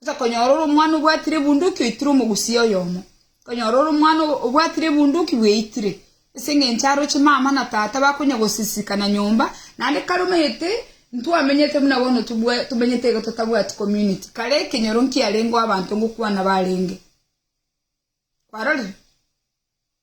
Ngocha konyora ore omwana obwatire ebunduki oitire omogusia oyomo. Konyora ore omwana obwatire ebunduki bweitire. Ase engencho aroche mama na tata bakonya gosisikana nyomba naende kare omanyete ntwamenyete buna bono tomenyete iga totabwati community. Kare ekenyoro nkiarengeo abanto ngokwana barenge. Kwarorire?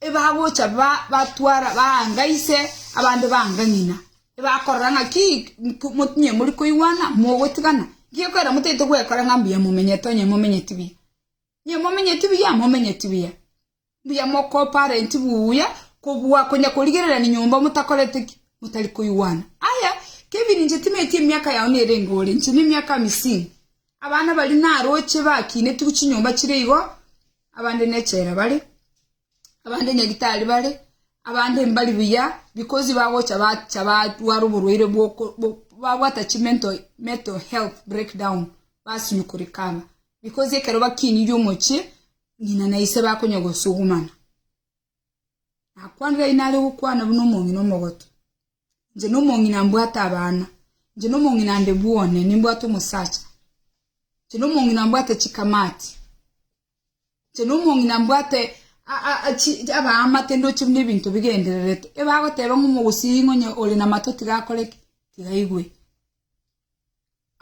Ebagocha batwara baanga ise, abande baanga ng'ina, ebakorora ng'aki inwe mori koigwana, mogotigana? Gekorera motaete gwekora ng'a mbuya momenyete, onye momenyeti buya. Inwe momenyeti buya, momenyeti buya. Mbuya mokoparenti buya kobua konya korigererani nyomba motakoreti ki? Motari koigwana. Aya, Kevin inche timaeti emiaka yao nerenge ore, inche nemiaka amisini. Abana baria naroche bakiinetigwe chinyomba chire igo, abande nechela bare, abande nyagetari bare, abande mbari buya because bagocha bacha barwara oborwaire bwoko babwata chi mental mental health breakdown basinywa korecover because ekero bakinire omochie ng'ina na ise bakonya gosugumana. Nakwanire nare gokwana buna omong'ina omogotu. Inche nomong'ina mbwate abana, inche nomong'ina nde bwone, nimbwate omosacha, inche nomong'ina mbwate chikamati, inche nomong'ina mbwate abaamate ndoche buna ebinto bigendererete, ebagoteba ng'a omogusii ng'a onye ore namato tiga akore ki? Tiga aigwe.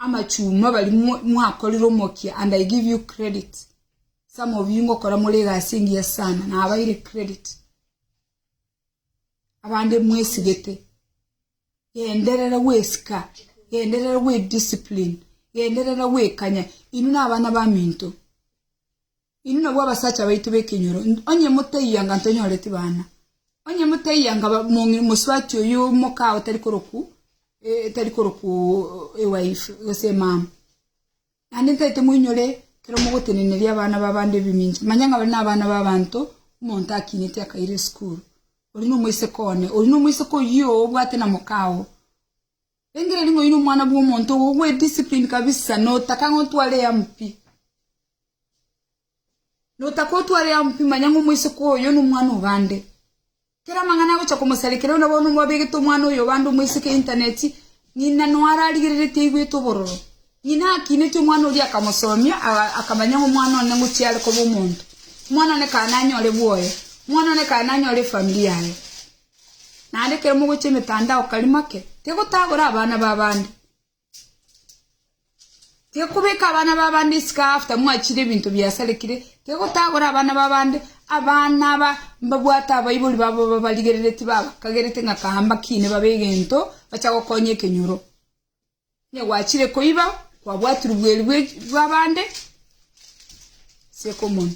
Amachuma bari mwa- mwakorire omokia and I give you credit, some of you ngokora more egasi engiya sana, nabaire credit. abande mwesigete, genderera gwesika, genderera gwe discipline, genderera gwekanya, inwe nabana baminto, inwe nabwo abasacha baito b'ekenyoro, onye motaiyo anga ntonyoreti bana, onye motaiyo anga ba- mong'i- mosubati oyo omokao otari koroku otari koroku ewife gose emama. Naende ntaete moinyore ekero mogoteneneria abana b'abande ebimincha, manye ng'a bare nabana b'abanto, omonto akineti akaira esukuru, oria nomoiseke one, oria nomoiseke oyio obwate na moka oo. Rengereria ng'a oyio nomwana bw'omonto ogo ogwe discipline kabisa, notaka ng'a otware eyemo pi. Notaka otware eyemo pi manya ng'a omoiseke oyo nomwana obande. Kera amang'ana agocha komosarekera onde bono mwabegete omwana oyo obande omoiseke y'intaneti, ng'ina nonya ararigereretie aigwete obororo. Ng'ina akiinetie omwana oria akamosomia, akamanya ng'a omwana one ngochia are koba omonto. Omwana one kae nanyore bwoyo. Omwana one kae nanyore efamiri yaye. Naende ekero mogochia emetandao kari make, tegotagora abana b'abande. Tikobeka abana b'abande isiko after mwachire ebinto biasarekire, tigotagora abana b'abande, abana aba mbabwate abaibori babo babarigereretie babakagerete ng'a kahamba kine babe egento bacha gokonya ekenyoro. Onye gwachire koiba, kwabwatirwe bweeri bw'abande, ase okomonwa.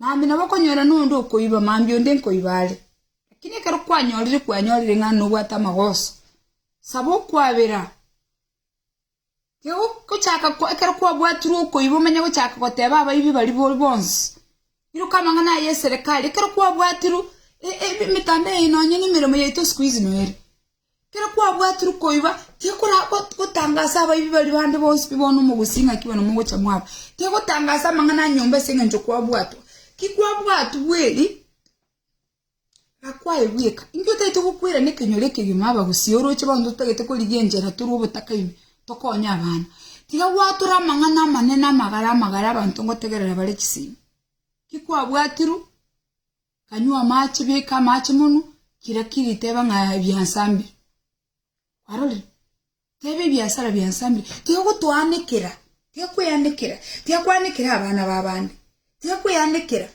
Mambia nabo okonyora nonde okoiba, mambia onde nkoiba are. Lakini ekero kwanyorire kwanyorire ng'a nobwate amagoso, saba okwabera. Tigochaka ekero kwabwatirwe okoiba omanye gochaka goteba abaibi baria boria bonsi. Iruka amang'ana aya eserekari, ekero kwabwatirwe emitambo eye nonya nemeremo yaito sikuizi noerio. Ekero kwabwatirwe koiba, tikoragotangasa abaibi baria bande bonsi nigo bono omogusii ng'a ki bono mogocha mwaba. Tigotangasa amang'ana a nyomba ase engencho kwabwatwa. Ki kwabwatwa bweri, na kwaebweka. Inki otaete gokwerana ekenyoro ekegima na abagusii, oroche bono totagete korigia enchera tore obotakaini, tokonye abana? Tiga gwatore amang'ana amanene amagare amagare abanto ngotegerera bare chisiimi. Ki kwabwatirwe? Kanywa amache, beka amache monwe, kira kiri teba ng'a ebiansambire. Kwarorire? Teba ebiasara biansambire. Tiga gotoanekera, tiga kweanekera, tiga kwanekera abana b'abande, tiga kweanekera.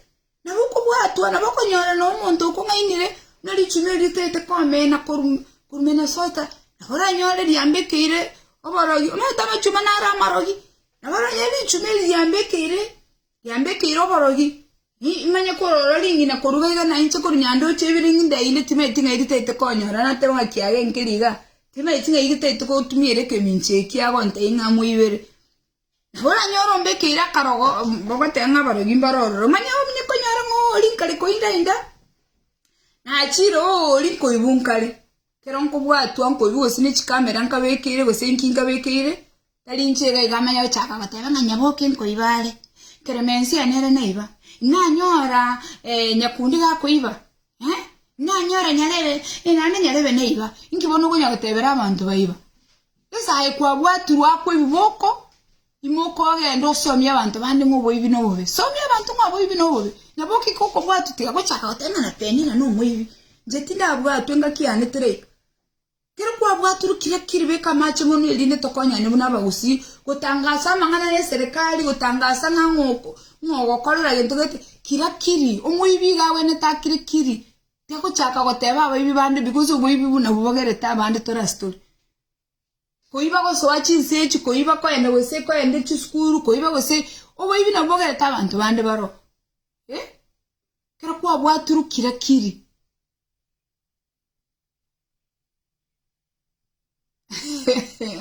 Nabo okobwatwa, nabo okonyora na omonto okong'ainire, buna richumi eri ritaete komena korum korumena sota, nabo oranyore riambe ekeire oborogi, omanyete amachuma naro amarogi, nabo oranyore richumi eri riambe ekeire. Yambekeire oborogi, nimanye korora ring'ina koruga iga na inche korwa nyandoche ibere ng'inda inde timaeti ng'ai ritaete konyora nateba ng'a kiaga enkeri iga, timaeti ng'ai gitaete gotumiera ekemincho eki agonta ing'amu ibere. Nabo oranyore ombekeire akarogo ogoteba ng'a abarogi mbaro ororo, manya onye konyora ng'a oori nkare koinda inda, nachiire oori nkoibu nkare. Kero nkobwatwa nkoibi gose ne chikamera nkabekeire gose enki nkabekeire, tari inche iga iga amanya gochaka goteba ng'a nyaboke nkoiba are. Clemensia nere naiba. Nanyora eh, Nyakundi gakoiba, eh, nanyora Nyarebe, eh, naende Nyarebe naiba. Inki bono okonya gotebera abanto baiba? Esaha eye kwabwatirwe akwa ebiboko, Imoka ogende osomie abanto bande ng'a oboibi nobobe. Somia abanto ng'a oboibi nobobe. Nabo okike okobwatwa tiga gochaka goteba ng'a natebie ng'a nomoibi. Inche tindabwatwe engaki yane teraika. Ekero kwabwaturwe kiria kiri beka amache ng'onwa erinde tokonyane buna abagusii gotangasa amang'ana y'eserekari gotangasa ng'a ng'o ng'a ogokorera gento gete kiria kiri. Omoibi iga agwenerete akire kiri. Tiga gochaka goteba abaibi bande because oboibi buna bobogerete abande tore ase tore. Koiba gosoa chinse echi, koiba koenda gose koenda chisukuru, koiba gose oboibi nabwo bogerete abanto bande baroo. Eh, ekero kwabwatirwe kira kiri.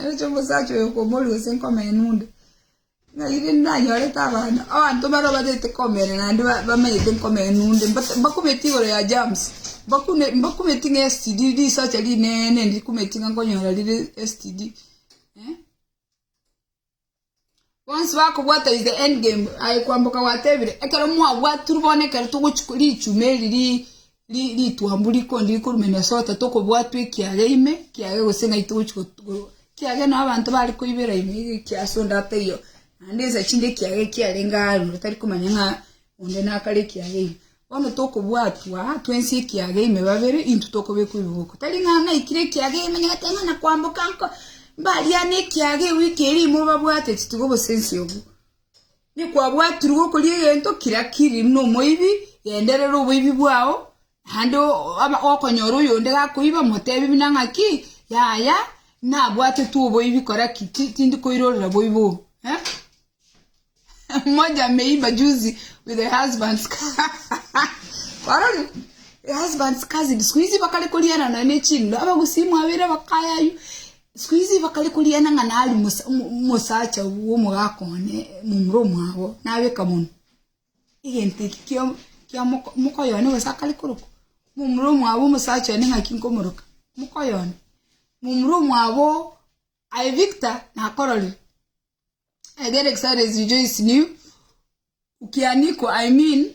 Oche omosacha oyo komori gose nkomenu onde. Ng'a riria nanyorete abana, abanto baria obatete komenya naende bamenyete nkomenya nonde, mbakumeti igoro ya germs, mbakumeti ng'a STD, risacha rinene ndikumeti ng'a nkonyora rire STD. Bonsi bakobwata is the end game, aye kwamboka gwatebire, ekero mwabwatirwe bono ekero togochi korichuma eri ri. ritwambu rikondi rikorumenia ase ogotato tokobwatwa ekiage ime ekiage gose ng'ai togochi ekiage nabo abanto bare koibera ime iga ekiasu onde ataiyo naende ensa chinde ekiage ekiarenge aro tari komanya ng'a onde nakare ekiage ime bono tokobwatwa twensi ekiage ime babere intwe tokobekwa ebiboko tari ng'a naikire ekiage ime nyagete ng'a nakwamboka nko mbariane ekiage ewiki eria ime obabwateti tiga obosensi obwo. Nikwabwatirwe okoria egento kira kiri nomoibi, genderera oboibi bwao, naende gokonyora oyonde gakoiba, motebi buna ng'aki, Yaya, nabwatetwe oboibi, kora ki? Tindi koirorera boibi obo. Eh? Mmoja ameiba juzi with her husband's car. Kwarori? Her husband's cousin. Siku hizi bakare koriana nonya ne chindo, abagusimu abere abakayayu. Sikuhizi bakare korigereria ng'a nari omosacha bw'omogaaka one momura omwabo, nabeka monwe egento eke kia mokoyo one gose akare korokwa momura omwabo omosacha one ng'aki nkomoroka mokoyo one. Momura omwabo aye Victor nakororire, I get excited to rejoice in you, ukianikwa I mean.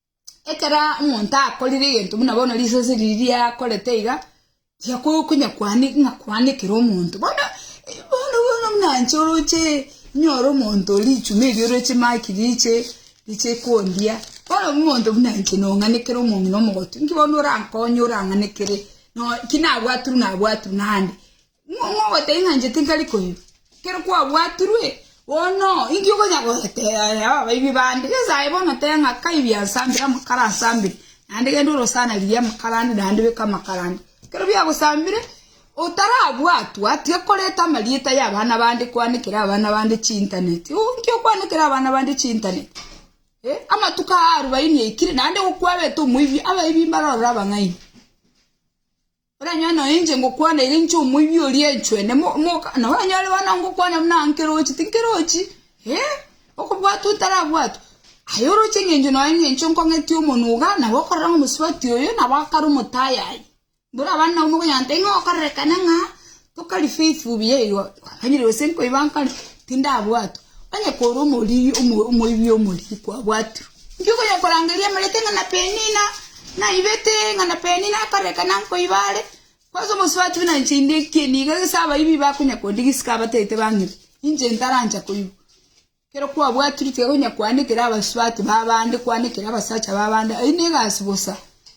ekero omonto akorire egento buna bono risasi riria riakorete iga, tiga ko- konya koani ng'a koanekera omonto bono bono bono buna inche oroche inyore omonto oria richumi erio oroche maki riche riche kondia, bono omonto buna inche nong'anekere omong'ina omogotu, inki bono orankonye orang'anekere no ki nabwate buna abwate buna ande. Ng'o ogoteba ng'a inche tinkari koirwa, ekero kwabwatirwe? Bono inki okonya goteeba abaibwi bande? Yeso aye bono tebe ng'a kai biansambire amakara ansambire, naende genda orosana riria amakara ande naende beka amakara ande. Ekero biagosambire, otarabwatwa, tiga koreta amarieta y'abana bande kwanekera abana bande chintaneti. Uu inki okwanekera abana bande chintaneti? Eh, amatuko aa arubaini aikire, naende gokwabete omoibwi, abaibwi mbarorire abang'aini. Oranyore nonya inche ngokwana ere inche omoibi oria enchwene mo moka na oranyore bono ngokwana buna nkerochi tinkerochi eh okobwatwa otarabwatwa aye oroche eng'encho nonya eng'encho nkong'etie omonwa iga nabo okorora ng'a omosubati oyo nabo akare omotayayi. Mborabande nabo mokonyora ng'a tari ng'a okorerekana ng'a Tokari faithful buya igo twakanyire gose nkoiba nkare tindabwatwa onye kore omoriri omoibi omoriri kwabwatirwe inki okonya korangeria amareta ng'a na penina naibete ng'a na penina akare aka nankoiba are kwanza omosubati buna inche inde ekieni iga gese abaibi bakonya kondigisika abatagete bang'ire inche ntarancha koiba. Ekero kwabwatirwe tiga konya koanekera abasubati b'abande, koanekera abasacha b'abande, ayio negasi bosa.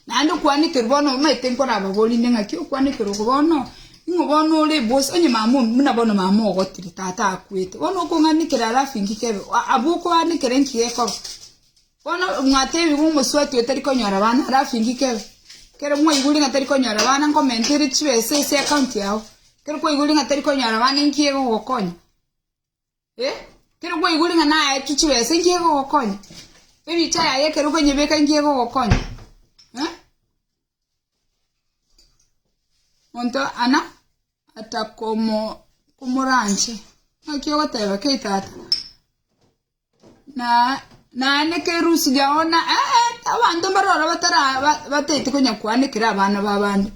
Naende okwanekerwa bono omanyete nkorababorie inde ng'aki okwanekerwa oko bono, ning'o bono ore bosa onye mama o- buna bono mama ogotire tata akwete, bono okong'anekera alafu inki kebe? Aa- abwo okoanekera inki gekoba? Bono mwatebiwa omosubati oyo tari konyora bana alafu inki kebe? Ekero mwaiborire ng'a tari konyora bana nkomentere chibesa ase account yago, ekero kwaiborire ng'a tari konyora bana inki egogokonya? Eh, kero kwaigure ng'a naetwe chibesa inki egogokonya? Ebicha yaye ekero okonyebeka inki egogokonya? Eh? Monto ana atakomo komoranche. Naki ogoteba kei tata? Naende kerusi yao na abanto mbare ororo bataete konya koanekera abana b'abande.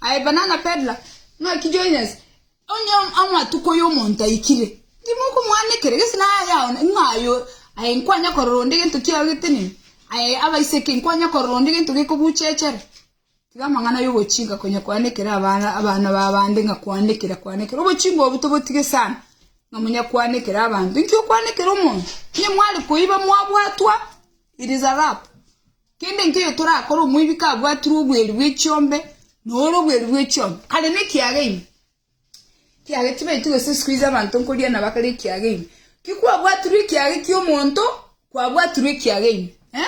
Aye banana pedra, ng'aki join us, onye amatuko y'omonto aikire, timokomoanekera gese naye aye aone ng'a aye o, aye nkwanya korora onde gento kiao getenene, aye abaiseke nkwanya korora onde gento gekobuchechere. Tiga amang'ana y'ogochika konya kwanekera abana abana b'abande ng'a kwanekera kwanekera. Obochingwa obwo tobotige sana ng'a monya kwanekera abanto. Inki okwanekera omonto? Onye mware koiba mwabwatwa, it is a wrap. Kende nkeyo torakore omoibi kabwatirwe obweri bwe chiombe, noro obweri bwe chiombe kare ne kiaga ime. Kiaga tibaeti gose siku hizi abanto nkoria nabo akare ekiaga ime. Ki kwabwatirwe ekiaga ekio omonto, kwabwatirwe ekiaga ime eh.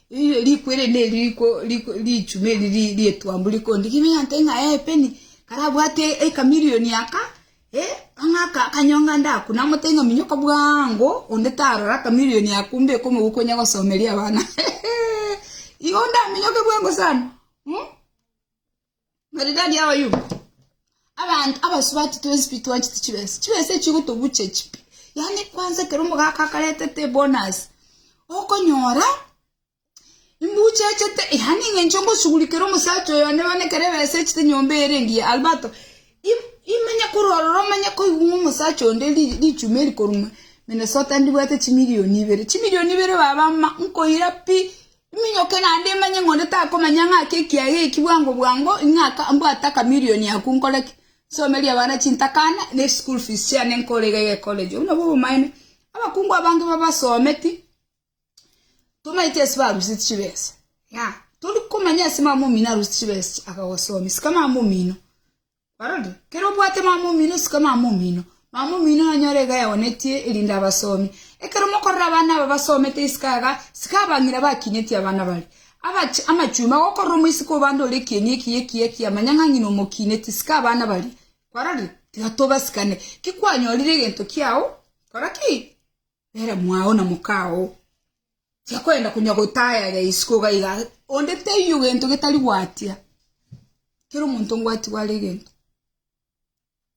Erio riko ere neri riko richumi eri ri'etuambu rikondi ki meng'anto ng'a epeni karabwate ekamirioni aka, eh, ang'e aka akanyonga nde aku, namotebi ng'a minyoka bwango, onde tarora akamirioni ako mbe komobuku onya gosomeria abana. Igo ndaminyoke bwango sana, eh. Maridadi abayubi, abanto abasubati twensi pi twanchete chibesa, chibesa echio gotobuche chi pi. Yaani kwanza ekero omogaka akaretete ebonus, okonyora imbuchechete yaani eng'encho ngoshughulikere omosacha oyo one one ekero ebesa echete nyomba ere engiya albato im- imenye kororora omanye koigwa omosacha onde ri- richumi eri korwa Minnesota ndibwate chimilioni ibere, chimilioni ibere baba ma nkoira pi Minyoke naende manye ng'a onde takomanya ng'ake ekiaga eki bwango bwango, ng'a mbwate akamilioni ako nkore ki? Nsomerie abana chintakana, na eschool fees chiane nkore iga iga ecollege. Obwo nabwo obomaene. Abakungu abange babasometi tomaeti ase baruseti chibesa. Ng'a tori komanya ase mama omino aruseti chibesa echi akagosomia. Sika mama omino. Barabwo, kera obwate mama omino isiko mama omino, mama omino nanyore iga yaonetie, erinde abasomi. Ekero mokorora abana aba basomete isiko aiga, isiko abang'ina bakinyetie abana baria. Abache amachumba gokorora omoiseke o bande ore ekieni ekiya ekiya ekiya, manya ng'a ng'ina omokineti isiko abana baria. Kwarorire? Tiga tobasikane. Ki kwanyorire egento kiao? Kora ki? Nere mwao na mokao tiakoenda konya gotayaya isiko iga iga onde taiyo gento getari gwatia kera omonto ngwati gware egento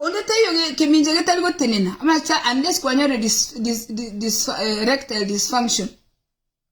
onde taiyo kemincha getari gotenena amache unless kwanyore dis dis dis eh erectile disfunction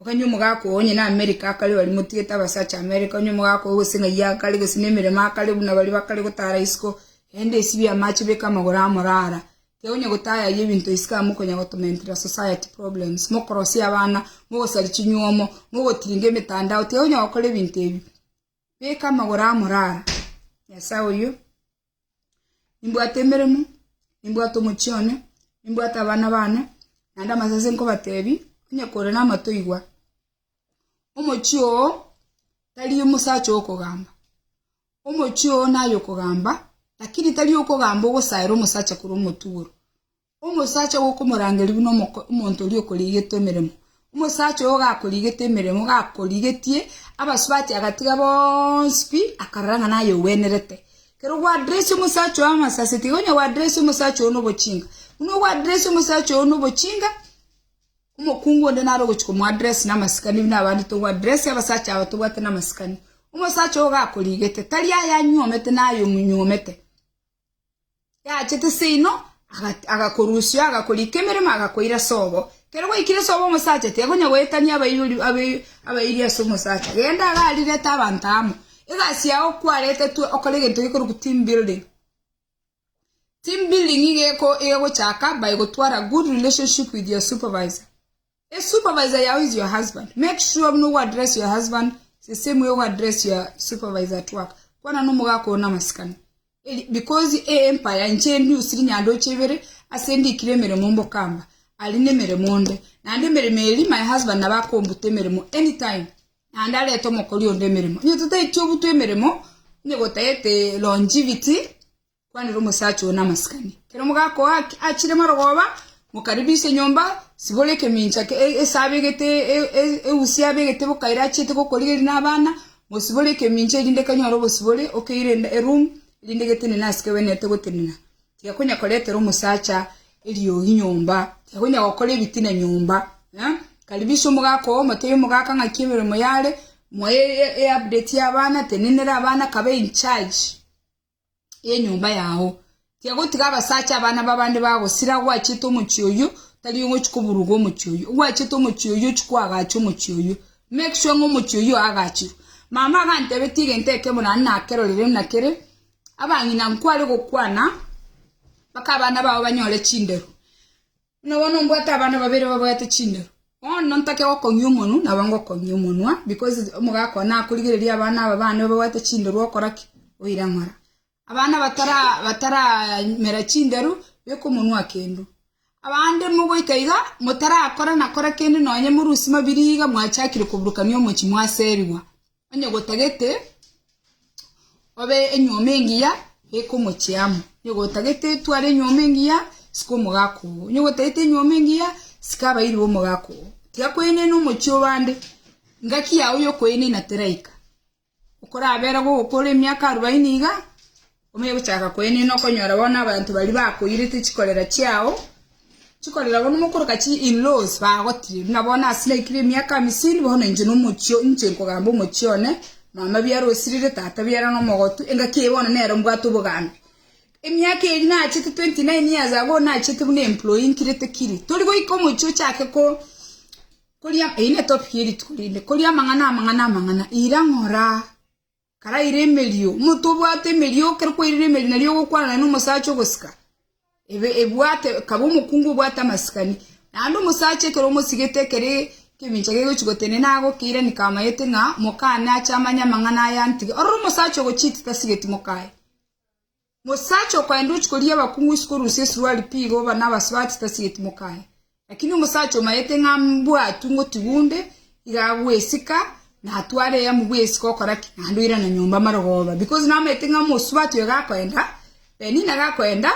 Okanya omogaka oo onye n'Amerika akare baria motigete abasacha Amerika, onye omogaka oo gose ng'ai akare, gose nemeremo akare buna baria bakare gotara isiko, erinde esibie amache beke amagoro aa morara. Teonya gotayayia ebinto isiko aa mokonya gotomentera society problems, mokorosia abana, mogosari chinyuomo, mogotiringa emetandao, teonya gokora ebinto ebi. Beka amagoro aa morara, Nyasae oyio. Nimbwate emeremo, nimbwate omochie one, nimbwate abana baane, naende amasase ase nkobateebia, onye kore namato igwa. Omochie oo tari omosacha owokogamba, omochie oo naye okogamba, lakini tari owokogamba ogosaera omosacha korwa omotugoro, Omosacha ogo okomorangeria buna omonto oria okorigete emeremo. Omosacha oyo gakorigete emeremo gakorigetie abasubati agatiga bonsi pi, akarora ng'a naye ogwenerete. Kero gwaderesia omosacha oyo amasase, tiga onye gwaderesia omosacha oyo nobochinga. Buna ogwaderesia omosacha oyo nobochinga, omokungu onde naro ogochi komoaddress na amasikani buna abande togwaddress abasacha aba tobwate na amasikani. Omosacha oyo gakorigete tari aye anyuomete naye omonyuomete. yachete seino agakorusia agakorika emeremo agakoira sobo kero gwaikire sobo omosacha tiakonya goetania abaibori abairi ase omosacha genda iga arirete abanto amo egasi yao kwaretetwe okore egento gekorokwa team building team building iga egochaka by gotwara good relationship with your supervisor. A supervisor yao is your husband, make sure buna ogoaddress your husband the same way ogoaddress your supervisor at work, kwana nomogaka oo namasikani. Eri- Because e empire inche endi usi rinyandoche ibere, ase ndikire emeremo mbokamba, ari nemeremo onde, naende emeremo eri my husband nabo akombuta emeremo anytime, naende arete omokori onde emeremo. Onye totaeti obutwa emeremo, onye gotagete longivity, Kwanera omosacha oo namasikani. Ekero mogakoa achire marogoba, mokaribisa enyomba, sibore ekemincha ase abegete eusi y'abegete bokaire achiete gokorigereria nabana, mosibore ekemincha erinde kanyore obosibore, okeire eroom, erinde getenene ase kewenerete gotenena. Tiga konya koretera omosacha eriogi nyomba, tiga konya gokora ebitina nyomba. Karibisa omogaka oo, motebie omogaka ng'aki emeremo yare, moe eupdate y'abana, tenenera abana, kabe incharge. y'enyomba yao. Tiga gotiga abasacha abana b'abande bagosira agwachete omochie oyio, tari onye ochia koburuga omochie oyio. Ogwachete omochie oyio ochia koagacha omochie oyio. Make sure ng'a omochie oyio oagachirwe. Mama agantebetia egento ekemo naende nakerorire buna kere, abang'ina nkware gokwana mpaka abana bao banyore chinderu. Buna bono mbwate abana babere babwate chindoro, bono ntake gokong'ia omonwa, nabo ngokong'ia omonwa, because omogaka one nakorigereria abana aba bane babwate chindoro okora ki? Oira ng'ora. Abana batara batara mera chinderu, beka omonwa kendo. Abande mogoika iga, motarakora na kora kende nonye morusie mabira iga mwachakire koburukania omochie mwaserigwa. Onye gotagete obe enyuoma engiya beka omochie amo, onye gotagete tware enyuoma engiya sika omogaka oo, onye gotagete enyuoma engiya sika abairi b'omogaka oo. Tiga koenena omochie o bande, engaki yao y'okoenena teraika. Okorabera gogokora emiaka arobaini iga. Omegochaka koenena okonyora bono abanto baria bakoirete chikorera chiao, chikorera bono mokoroka chi in laws bagotire buna bono ase naikire emiaka amisini bono inche nomochio inche nkogamba omochie one mama biara osirire tata biara nomogotu engaki eye bono nero mbwate obogambi emiaka eri nachete 29 years ago nachete buna employee nkirete kiri tori goika omochio ochake ko koria eyio netopic yerituko rinde koria amang'ana amang'ana amang'ana ira ng'ora. Karaire emerio. Omonto obwate emerio ekero kwairire emerio nario ogokwana naende nomosacha ogosika, ebwate ekaba omokungu obwate amasikani. Naende omosacha ekero omosigete ekere ekemincha kegochi gotenena agokeiranika amayete ng'a mokane ache amanye amang'ana aya ntige. Ororo omosacha ogochiti tasigeti mokaye. Omosacha okaenda ochia koria abakungu isiko orusia esuruari pi igo oba nabasio ase tasigeti mokaye. Lakini omosacha omayete ng'a mbwatwe ngotigu onde, iga agwesika na atware eyamo bw'esika okora ki? Naende oirane nyomba amare ogoba because namaete ng'a omosubati oyo gakoenda, Penina gakoenda,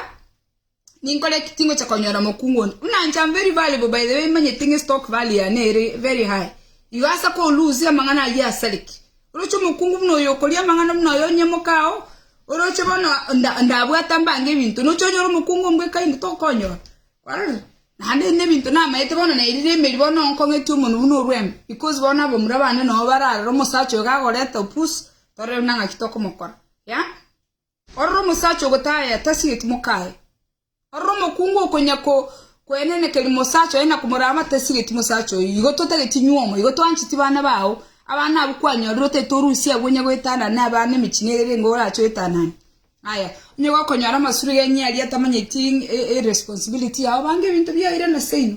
Ninkore ki tingocha konyora mokungu onde? Buna inche amo very valuable by the way manyete ng'a estock value yane ere very high. Igo asa ko lose amang'ana ayio asareki. Oroche omokungu buna oyo okoria amang'ana buna oyo onyemoke ao, oroche bono ndabwata mbange ebinto nocha onyore omokungu ombweka inde tokonyora. Kwarorire? Naende na ebinto namaete bono nairire emeri bono nkong'eti omonwe buna orwembe because bono abamura bande nabo bararora omosacha oyo kagoreta opusi torore buna ng'aki tokomokora. Yeah? Ororo omosacha ogotaya tasigeti mokaye. Ororo omokungu okonyako kwenenekeria mosacha oye na komorama tasigeti mosacha oye. Igo totageti nyuomo, igo twancheti bana bao. Abana abwo kwanyorire otaete orusia agwo onye goetanana ne abana emechie nere erenge orache oetanane. Aya, onye gokonyora amasuro genye aria tamanyeti eresponsibility yao, banga ebinto biao irana seino.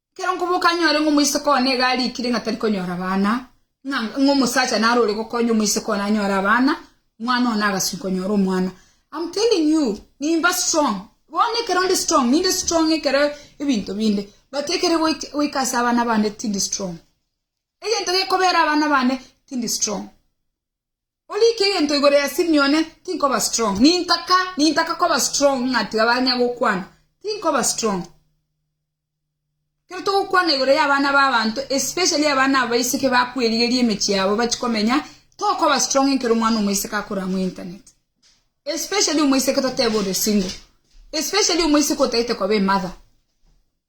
Ekero nkoboka nyore ng'a omoiseke one nigo arikire ng'a tari konyora abana, ng'a omosacha naro ore gokonya omoiseke one anyore abana, omwana one agaswi konyora omwana. I'm telling you, nimba strong. Bono ekero ndi strong, ninde strong ekero ebinto binde, but ekere goika goika ase abana bande tindi strong. Egento gekobera abana bane tindi strong. Orike egento igoro ya Simione, tinkoba strong. Nintaka, nintaka koba strong ng'a tiga banya gokwana. Tinkoba strong. Kero togokwana igoro ya abana ba abanto, especially abana aba baiseke bakwerigeria emechie yabo bachie komenya, tokoba strong ekero omwana omoiseke akore amo internet. Especially omoiseke totebe ore single. Especially omoiseke otaete koba emother.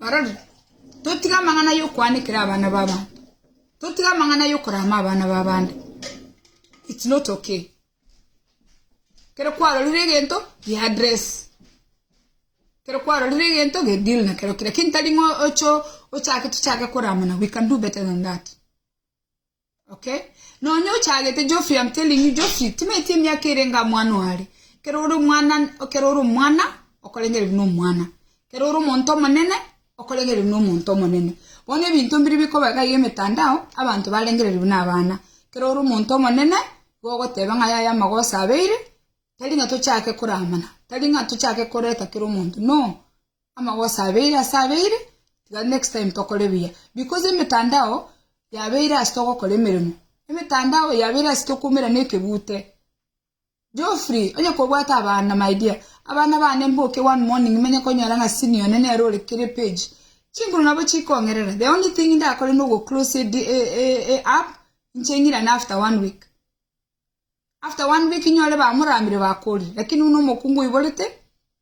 Barabwo, totige amang'ana y'okoanekera abana b'abanto, totige amang'ana y'okorama abana b'abande, it's not okay. Ekero kwarorire egento gi address, ekero kwarorire egento ge deal nakero kere, lakini tari ng'a oche ochake tochake koramana, we can do better than that. Okay. Nonya ochagete Geoffrey I'm telling you Geoffrey timaeti emiaka erenge amwana oare. Ekero ore omwana ekero ore omwana okorengere buna omwana. Ekero ore omonto omonene okorengere buna omonto omonene. Bono ebinto mbiri bikoba iga iga emetandao abanto barengereri buna abana. Ekero ore omonto omonene igo ogoteba ng'a yaya amagoso abeire tari ng'a tochake koramana tari ng'a tochake koreta kera omonto no Amagoso abeire ase abeire, tiga next time tokore buya because emetandao yabeire ase togokora emeremo, emetandao yabeire ase tokwoumerana ekegute. Geoffrey, onye kobwate abana my dear, abana bane mboke one morning nimenye konyora ng'a senior one nere ore kere page, chinguru nabo chikong'erera, the only thing ndakore nogoclose e app inche ng'irane after one week. After one week inyore bamoramire bakori lakini buna omokungu oiborete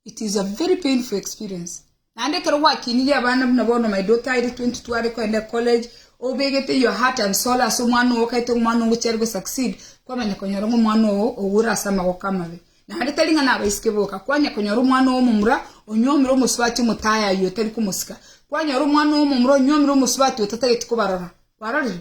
it is a very painful experience naende ekero gwakinirie abana buna bono my daughter aire 20 tware koenda college obegete your heart and soul ase omwana ogo okaete omwana ogo chiari go succeed kwamanya konyora ng'a omwana ogo oure ase amagoko amabe naende tari ng'a nabaisike boka kwanya konyora omwana ogo omomura onyomire omosubati omotaaya aye otari komosika kwanyora omwana ogo omomura onyomire omosubati otatageti kobarora kwarorire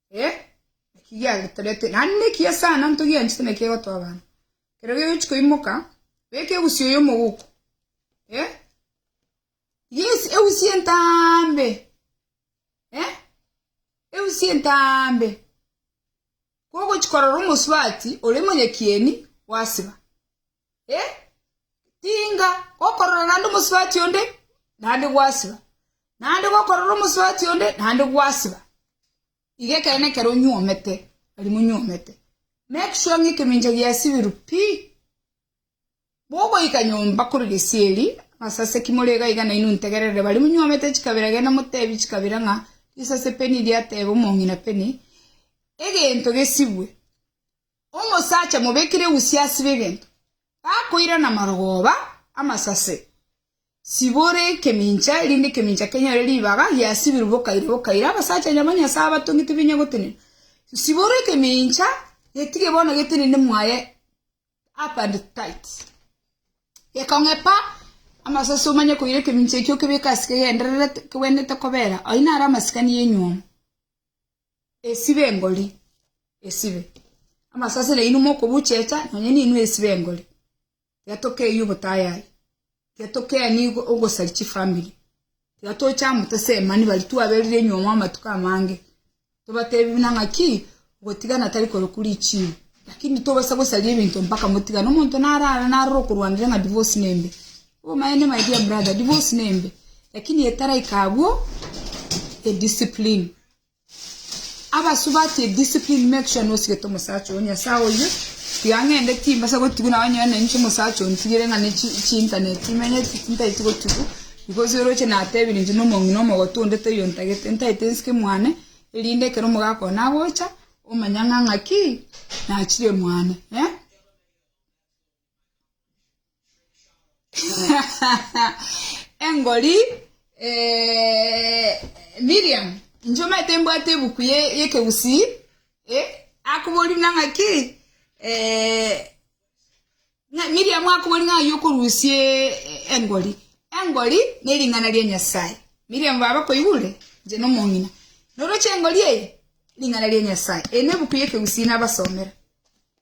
Eh, naki giagetorete, naende naki ase aano ntogianchete naki egotwa abana. Ekero gegochia koimoka, beka egusia oyo omogoko. Eh, yes, egusia entaambe. Eh, egusia entaambe. Kogochia korora omosubati ore monyekieni, gwasiba. Tinga gokorora naende omosubati onde, naende gwasiba, naende gokorora omosubati onde, naende gwasiba. Iga ekero nekero onyuomete, nari monyuomete, make sure ng'a ekemincha giasibirwe pi! Bogoika nyomba korwa gesieri, amasase ki more iga iga nainwe integerere bare monyuomete chikabera genda motebie chikabera ng'a risase peni riateba omong'ina peni, egento gesibwe. Omosacha mobekire egusia ase begento, gakoirana marogoba amasase, sibore ekemincha, erinde ekemincha kenyore ribaga giasibirwe bokaire bokaire. Abasacha nya banyasae abatonge tibenya gotenena. Sibore ekemincha, getige bono getenene mwaye up and tight. Gekong'epa amasase omanye koira ekemincha ekio okebeke ase kegendererete, kegwenerete kobera. Ayio naro amasikani y'enywomo. esibe engori, esibe. Amasasera yaino mokobuchecha, nonya ninwe esibe engori. Tiga tokeyie obotayari, tiga tokeani ogo- ogosari chifamiri, tiga toche amo tosemani baria twaberire nyuoma amatuko amange, tobatebi buna ng'aki, gotigana tari koroku richibo, lakini tobasa gosaria ebinto mpaka motigane. Omonto narara narora okorwanire ng'a divorce nembe, obomaene my dear brother, divorce nembe, lakini etaraika abwo, ediscipline. Abasubati discipline make sure nosigete omosacha oyo nyasaye oyio tiga ngende timbasa gotigwa naye onyore na inche omosacha oyo ntigere ng'a ne chi chi internet imenyeti ntaeti gotigwa because oroche natebire inche na omong'ina omogotu onde toiyo ntagete ntaete nsike mwane erinde ekero omogaka oye nagocha omanye ng'a ng'aki nachire mwane eh. engori eh, Miriam inche omanyete mbwate ebuku ye yekegusii eh, akobori nang'aki eh, Miriam akobori ng'ai okorusia eh, engori engori ne ring'ana ria Nyasaye Miriam baba koigure inche nomong'ina noroche engori eye ring'ana ria Nyasaye eri nebuku yekegusii nabasomera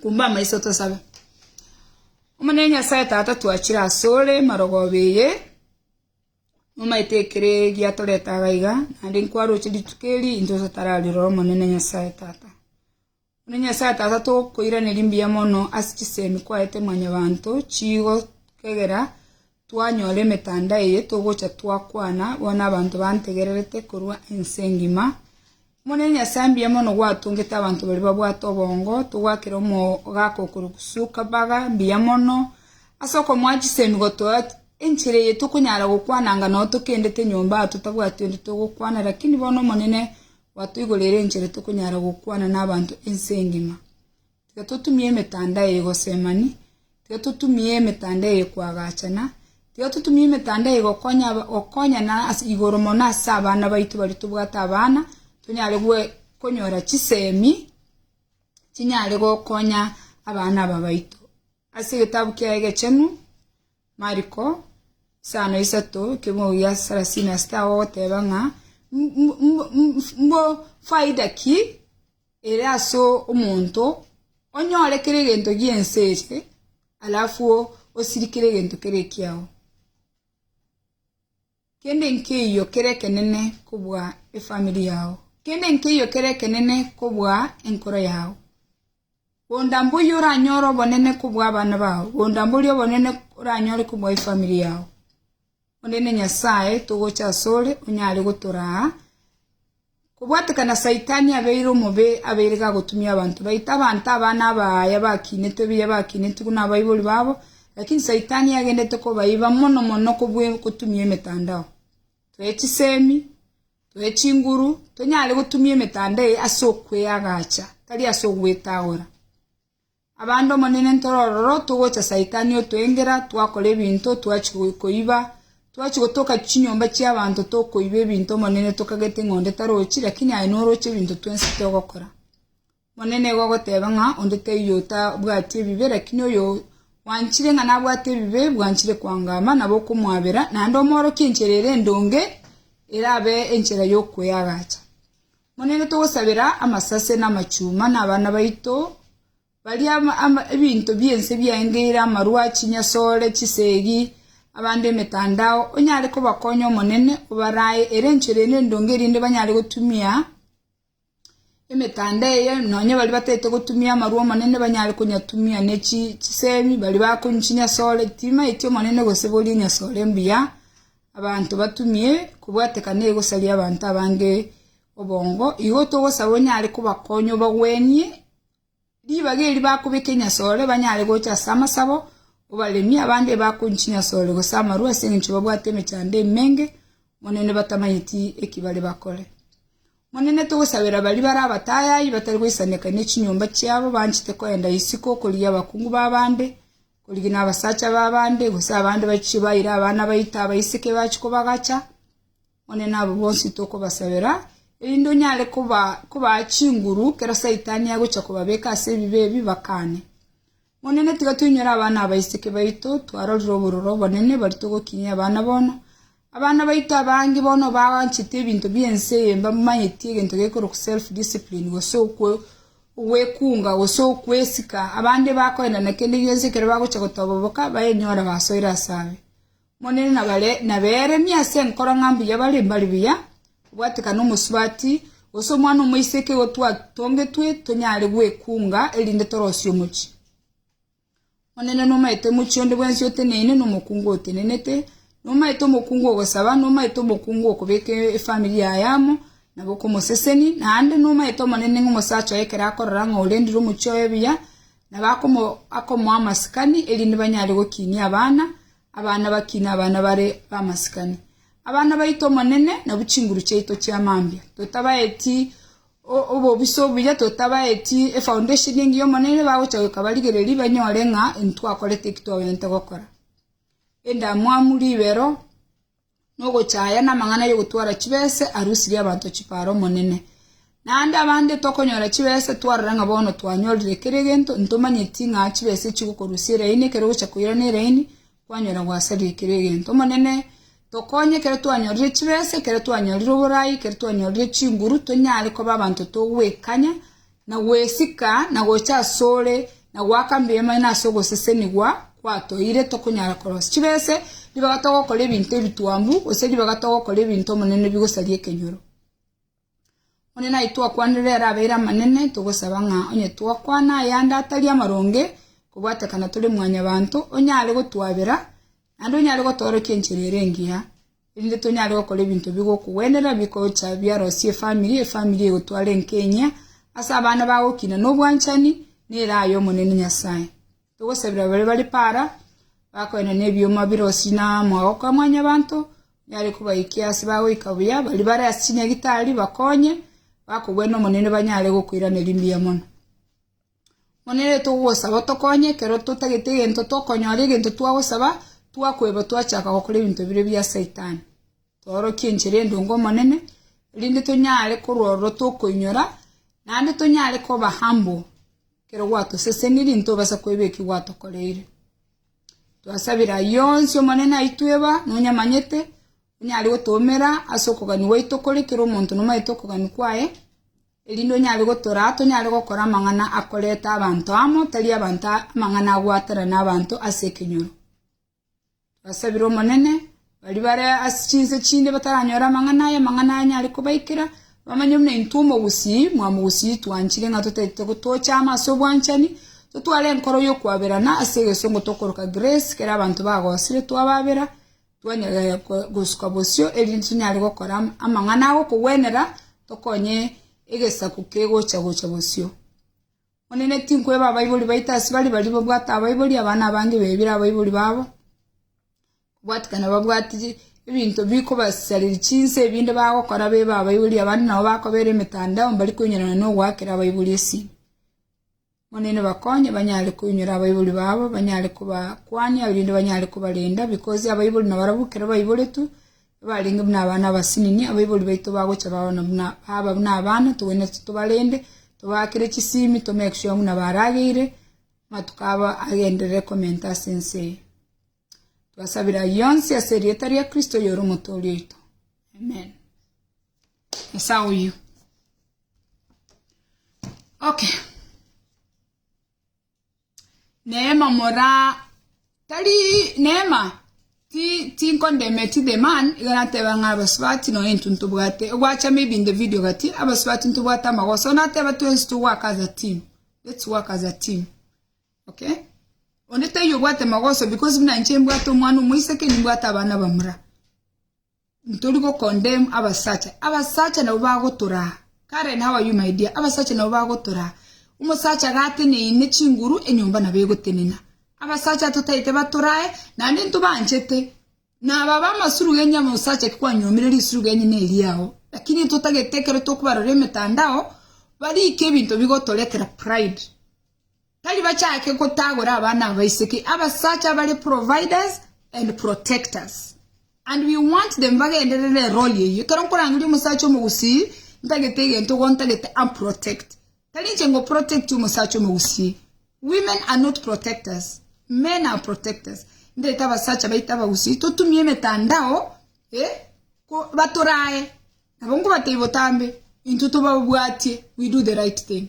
Kumba amaiso tosabe. Omonene Nyasae Tata twachire asore marogoba eye nomaete ekere giatorete agaiga naende nkwaroche rituko eri into totararire Omonene Nyasae Tata Omonene Nyasae Tata tokoiraneria mbuya mono ase chisemi kwaete mwanyabanto chigo kegera Twanyora emetanda eye togocha twakwana, bono abanto bantegererete korwa ense engima. Omonene Nyasae mbuya mono gwatongete abanto baria babwate obongo, togwakera omogaka okorokwa Sukabaga mbuya mono, ase okomoa chisemi gotoa enchera eye tokonyara gokwana anga nao tokendete nyomba aa totabwati onde togokwana, rakini bono Omonene gwatoigoreire enchera tokonyara gokwana nabaanto ense engima. Tiga totumie emetanda eye gosemani, tiga totumie emetanda eye koagachana, tiga totumie emetanda eye gokonya aba gokonyana ase igoro mono ase abana baito baria tobwate abana, tonyare goe konyora chisemi chinyare gokonya abana aba baito. Ase egetabu kiaye egechenu, Mariko, isano isato, ekemogo gia sarasini na sita, agogoteba ng'a mbu- mbu- mbu- mbu- mbu- faida ki? ere ase omonto, onyore kera egento gi'ense eye, alafu osirie kera egento kere ekiao. Kende nkeiyo kere ekenene kobua efamiri yao, kende nkeiyo kere ekenene kobua enkoro yao. Bonda mboyio oranyore obonene kobua abana bao, bonda mboria obonene oranyore kobua efamiri yao. Omonene Nyasae, togocha asore, onyare gotoraa. Kobwatekana Saitani abeire omobe, abeire gagotumia abanto baito, abanto aba nabaaya bakinetwe ebiya bakinetiwu nabaibori babo, lakini Saitani agendete kobaiba mono mono kobua gotumia emetandao. Toe chisemi, toe chinguru, tonyare gotumia emetanda eye ase okweagacha, tari ase ogwetagora. Abande Omonene ntore ororo togocha Saitani otwengera twakora ebinto twachia koiba, twachia gotoka chinyomba chi'abanto tokoiba ebinto Omonene tokagete ng'a onde tarochi lakini aye noroche ebinto twensi togokora. Omonene igo ogoteba ng'a onde taiyo otabwati ebibe lakini oyo wanchire ng'a nabwate ebibe bwanchire kwangama nabo okomwabera naende omoorokie enchera ere endonge erabe enchera y'okoeagacha. Monene, togosabera amasase, na amachuma, na abana baito, baria ebinto bi'ense biaengeire, amarwa, chinyasore, chisegi, abande emetandao, onyare kobakonya, Omonene, obaraae ere enchera eno endonge erinde banyare gotumia emetandao eye, nonya baria bataete gotumia amarwa, Omonene, banyare konyatumia, ne chisemi, baria bakonywa chinyasore, timaeti, Omonene, gose boria enyasore mbuya, Abanto batumie kobwatekana egosaria abanto abange obongo, igo togosaba onyare kobakonya obagwenie ribaga eri bakobeka enyasore banyare gocha ase amasabo, obaremie abande ebakonywa chinyasore gose amarwa ase engencho babwate emechando emenge Omonene batamanyeti eki bare bakore. Omonene togosabera baria bare abatayayi batari goisaneka nechinyomba chiabo banchete koenda isiko okorigia abakungu b'abande, Korigina abasacha b'abande, gose abande bachie baire abana baito abaiseke bachie kobagacha, Omonene abo bonsi tokobasabera, erinde onyare kobaa chinguru ekero Saitani agochia kobabeka ase ebibe ebi, bakane. Omonene, tiga toinyore abana abaiseke baito, twarorire obororo obonene, baria togokinyia abana bono, Abana baito abange bono baanchete ebinto bi'ense eye mbamanyetie egento gekorokwa self discipline gose ogwekunga gose okwesika, abande bakoenda na kende gionsi ekero bagochia gotoba boka bayenyore basoire ase aye. Omonene naberemie ase enkoro ng'a mbuya bare mbare buya, obwatekano omosubati, gose omwana omoiseke igo twatongetwe tonyare gwekunga erinde torosie omochie. Omonene nomaete omochie onde bwensi oteneine, na omokungu otenenete, nomaete omokungu ogosaba, nomaete omokungu okobeka efamiri yaye amo, nabo okomoseseni, naende nomaete Omonene ng'a omosacha oye ekero akorora ng'a orendire omochie oye buya, nabo akomo akomoa amasikani, erinde banyare gokinia abana, abana bakine abana bare bamasikani. Abana baito Omonene, nabwo chinguru chiaito chi'amambia, totabaeti Obobisa obuya totabaeti efaundesheni engiya Omonene bagocha goika barigererie banyore ng'a intwakorete eki twabwenerete gokora. Endamwamu, ribero, na ogochaya namang'ana yogotwara chibese arusirie abanto chipara Omonene. Naende abande tokonyora chibese twarora ng'a bono twanyorire kera egento intomanyeti ng'a chibese echi gokorusia eraini ekero ogocha koirana eraini Kwanyora gwasaria ekero egento. Omonene, tokonye ekero twanyorire chibesa, ekero twanyorire oboraai, ekero twanyorire chinguru, tonyare koba abanto togwekanya, na gwesika, na gocha asore, na goaka mbiema ime ase ogosesenigwa kwatoeire, tokonyara korosia chibese, ribaga togokora ebinto ebitwambu, gose ribaga togokora ebinto, Omonene, bigosaria ekenyoro. Omonene aye twakwanire ere abeire amanene, togosaba ng'a onye twakwana ayande atari amaronge, kobwatekana tore mwanyabanto, onyare gotwabera, naende onyare gotorokia enchera ere engiya, erinde tonyare gokora ebinto bigokogwenera, bigocha biarosie efamiri, efamiri egotware enkenya ase abana bago okina na obwanchani, nere aye Omonene Nyasae. Togosabera baria bare paara, bakoenda nebioma birosi na amagoko a Mwanyabaanto, onyare kobaikia ase bagoika buya, baria bare ase chinyagitari bakonye, bakogwena Omonene banyare gokoiraneria mbuya mono. Omonene togosaba otokonye ekero totagete egento tokonyora egento twagosaba twakweba twachaka gokora ebinto bire bia saitani. Toorokie enchera endonge Omonene, erinde tonyare korwa ororo tokoinyora, naende tonyare koba humble. Ekero gwatosesenirie ntobasa koiba eki gwatokoreire. Twasabire ayio onsi Omonene aitwe eba nonyamanyete, onyare gotoumera ase okogania gwaito kore kera omonto nomanyete okogania kwaye, erinde onyare gotoraa tonyare gokora amang'ana akoreta abanto amo, tari abanto amang'ana agwatanana abanto ase ekenyoro. Basabire Omonene, baria bare ase chinse chinde bataranyore amang'ana aya, amang'ana aya nyare kobaikera, bamanye buna intwe omogusii mwa mogusii twanchire ng'a totaete gotocha amo ase obwanchani, totware enkoro y'okwaberana ase egesongo tokoroka grace, ekero abanto bagosire twababera, twanyara gosuka bosio erinde tonyare gokora amang'ana agokogwenera, tokonye egesaku kegocha gocha bosio. Omonene tinkweba abaibori baito ase bare baria babwate abaibori abana abange bebire abaibori babo, kobwatikana babwate ebinto bikobasareria chinsa ebinde bagokora bebe abaibori abande nabo bakobera emetandao mbari koinyora nogoakera abaibori esimo. Omonene bakonye banyare koinyora abaibori babo banyare kobakwania erinde banyare kobarenda bikosi abaibori nabarabwo ekero baiboretwe Abarenge buna abana abasinini, abaibori baito bagocha baona buna baaba buna abana, togwenerete tobarende, tobaakere chisiimi, tomake sure ng'una barageire, amatuko abo agenderere komenta ase ense eye. Twasabire ayio onsi ase erieta ria Kristo oyore omotoori oito. Amen. Nyasae oyio. Okay. Neema mora tari neema ti tinkondeme ti the man iga nateba ng'a abasubati nonya intwe ntobwate ogwachama ebi in the video gati abasubati ntobwate amagoso nateba twensi togwaka as a team let's work as a team okay onde taiyo obwate magoso because buna inche mbwate omwana omoiseke nimbwate abana bamura Ntori gocondemn abasacha, abasacha nabo bagotoraa. Karen, how are you my dear? Abasacha nabo bagotoraa. Omosacha gateneine chinguru enyomba nabo egotenena. Abasacha totaete batorae naende ntobanchete. Naba abe amasuru genye omosacha ki kwanyuomire risuru genye neri ao. Lakini totagete ekero tokobarora emetandao barike ebinto bigotoretera pride. Tari bachaake gotagora abana aba isiki abasacha abare providers and protectors and we want them bagenderere eroli eyio ekero nkorangeria omosacha omogusii ntagete egento igo ntagete am protect tari inche ngo protect omosacha omogusii women are not protectors men are protectors ntagete abasacha baito abagusii totumie emetandao eh ko batorae nabo nkobatebia botambe intwe tobabwatie we do the right thing.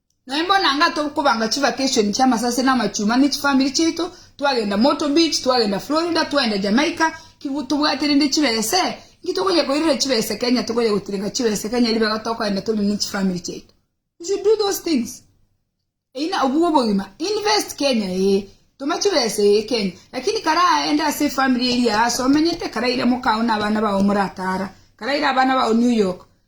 Naimbona ng'a tokobanga chivakeshoni chi'amasase na amachuma ne chifamiri chiaito, twagenda Myrtle Beach, twagenda Florida, twaenda Jamaica, ki tobwate rende chibese? Inki tokonya koirera chibese Kenya? Tokonya gotirenga chibese Kenya ribega tokoenda tore ne chifamiri chiaito? You should do those things. Eina obugwe obogima. Invest Kenya, ee. Toma chibese, ee, Kenya. Lakini kare aende ase efamiri eria aase omenyete, kare aire mokao na abana bao moratara, kare aire abana bao New York,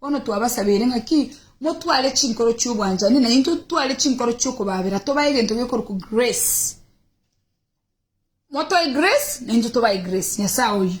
Bono twabasabeire ng'aki motware chinkoro chi'obwanchani, na intwe totware chinkoro chi'okobaabera, tobae egento gekorokwa grace. Motoe grace, na intwe tobae grace. Nyasae oyio.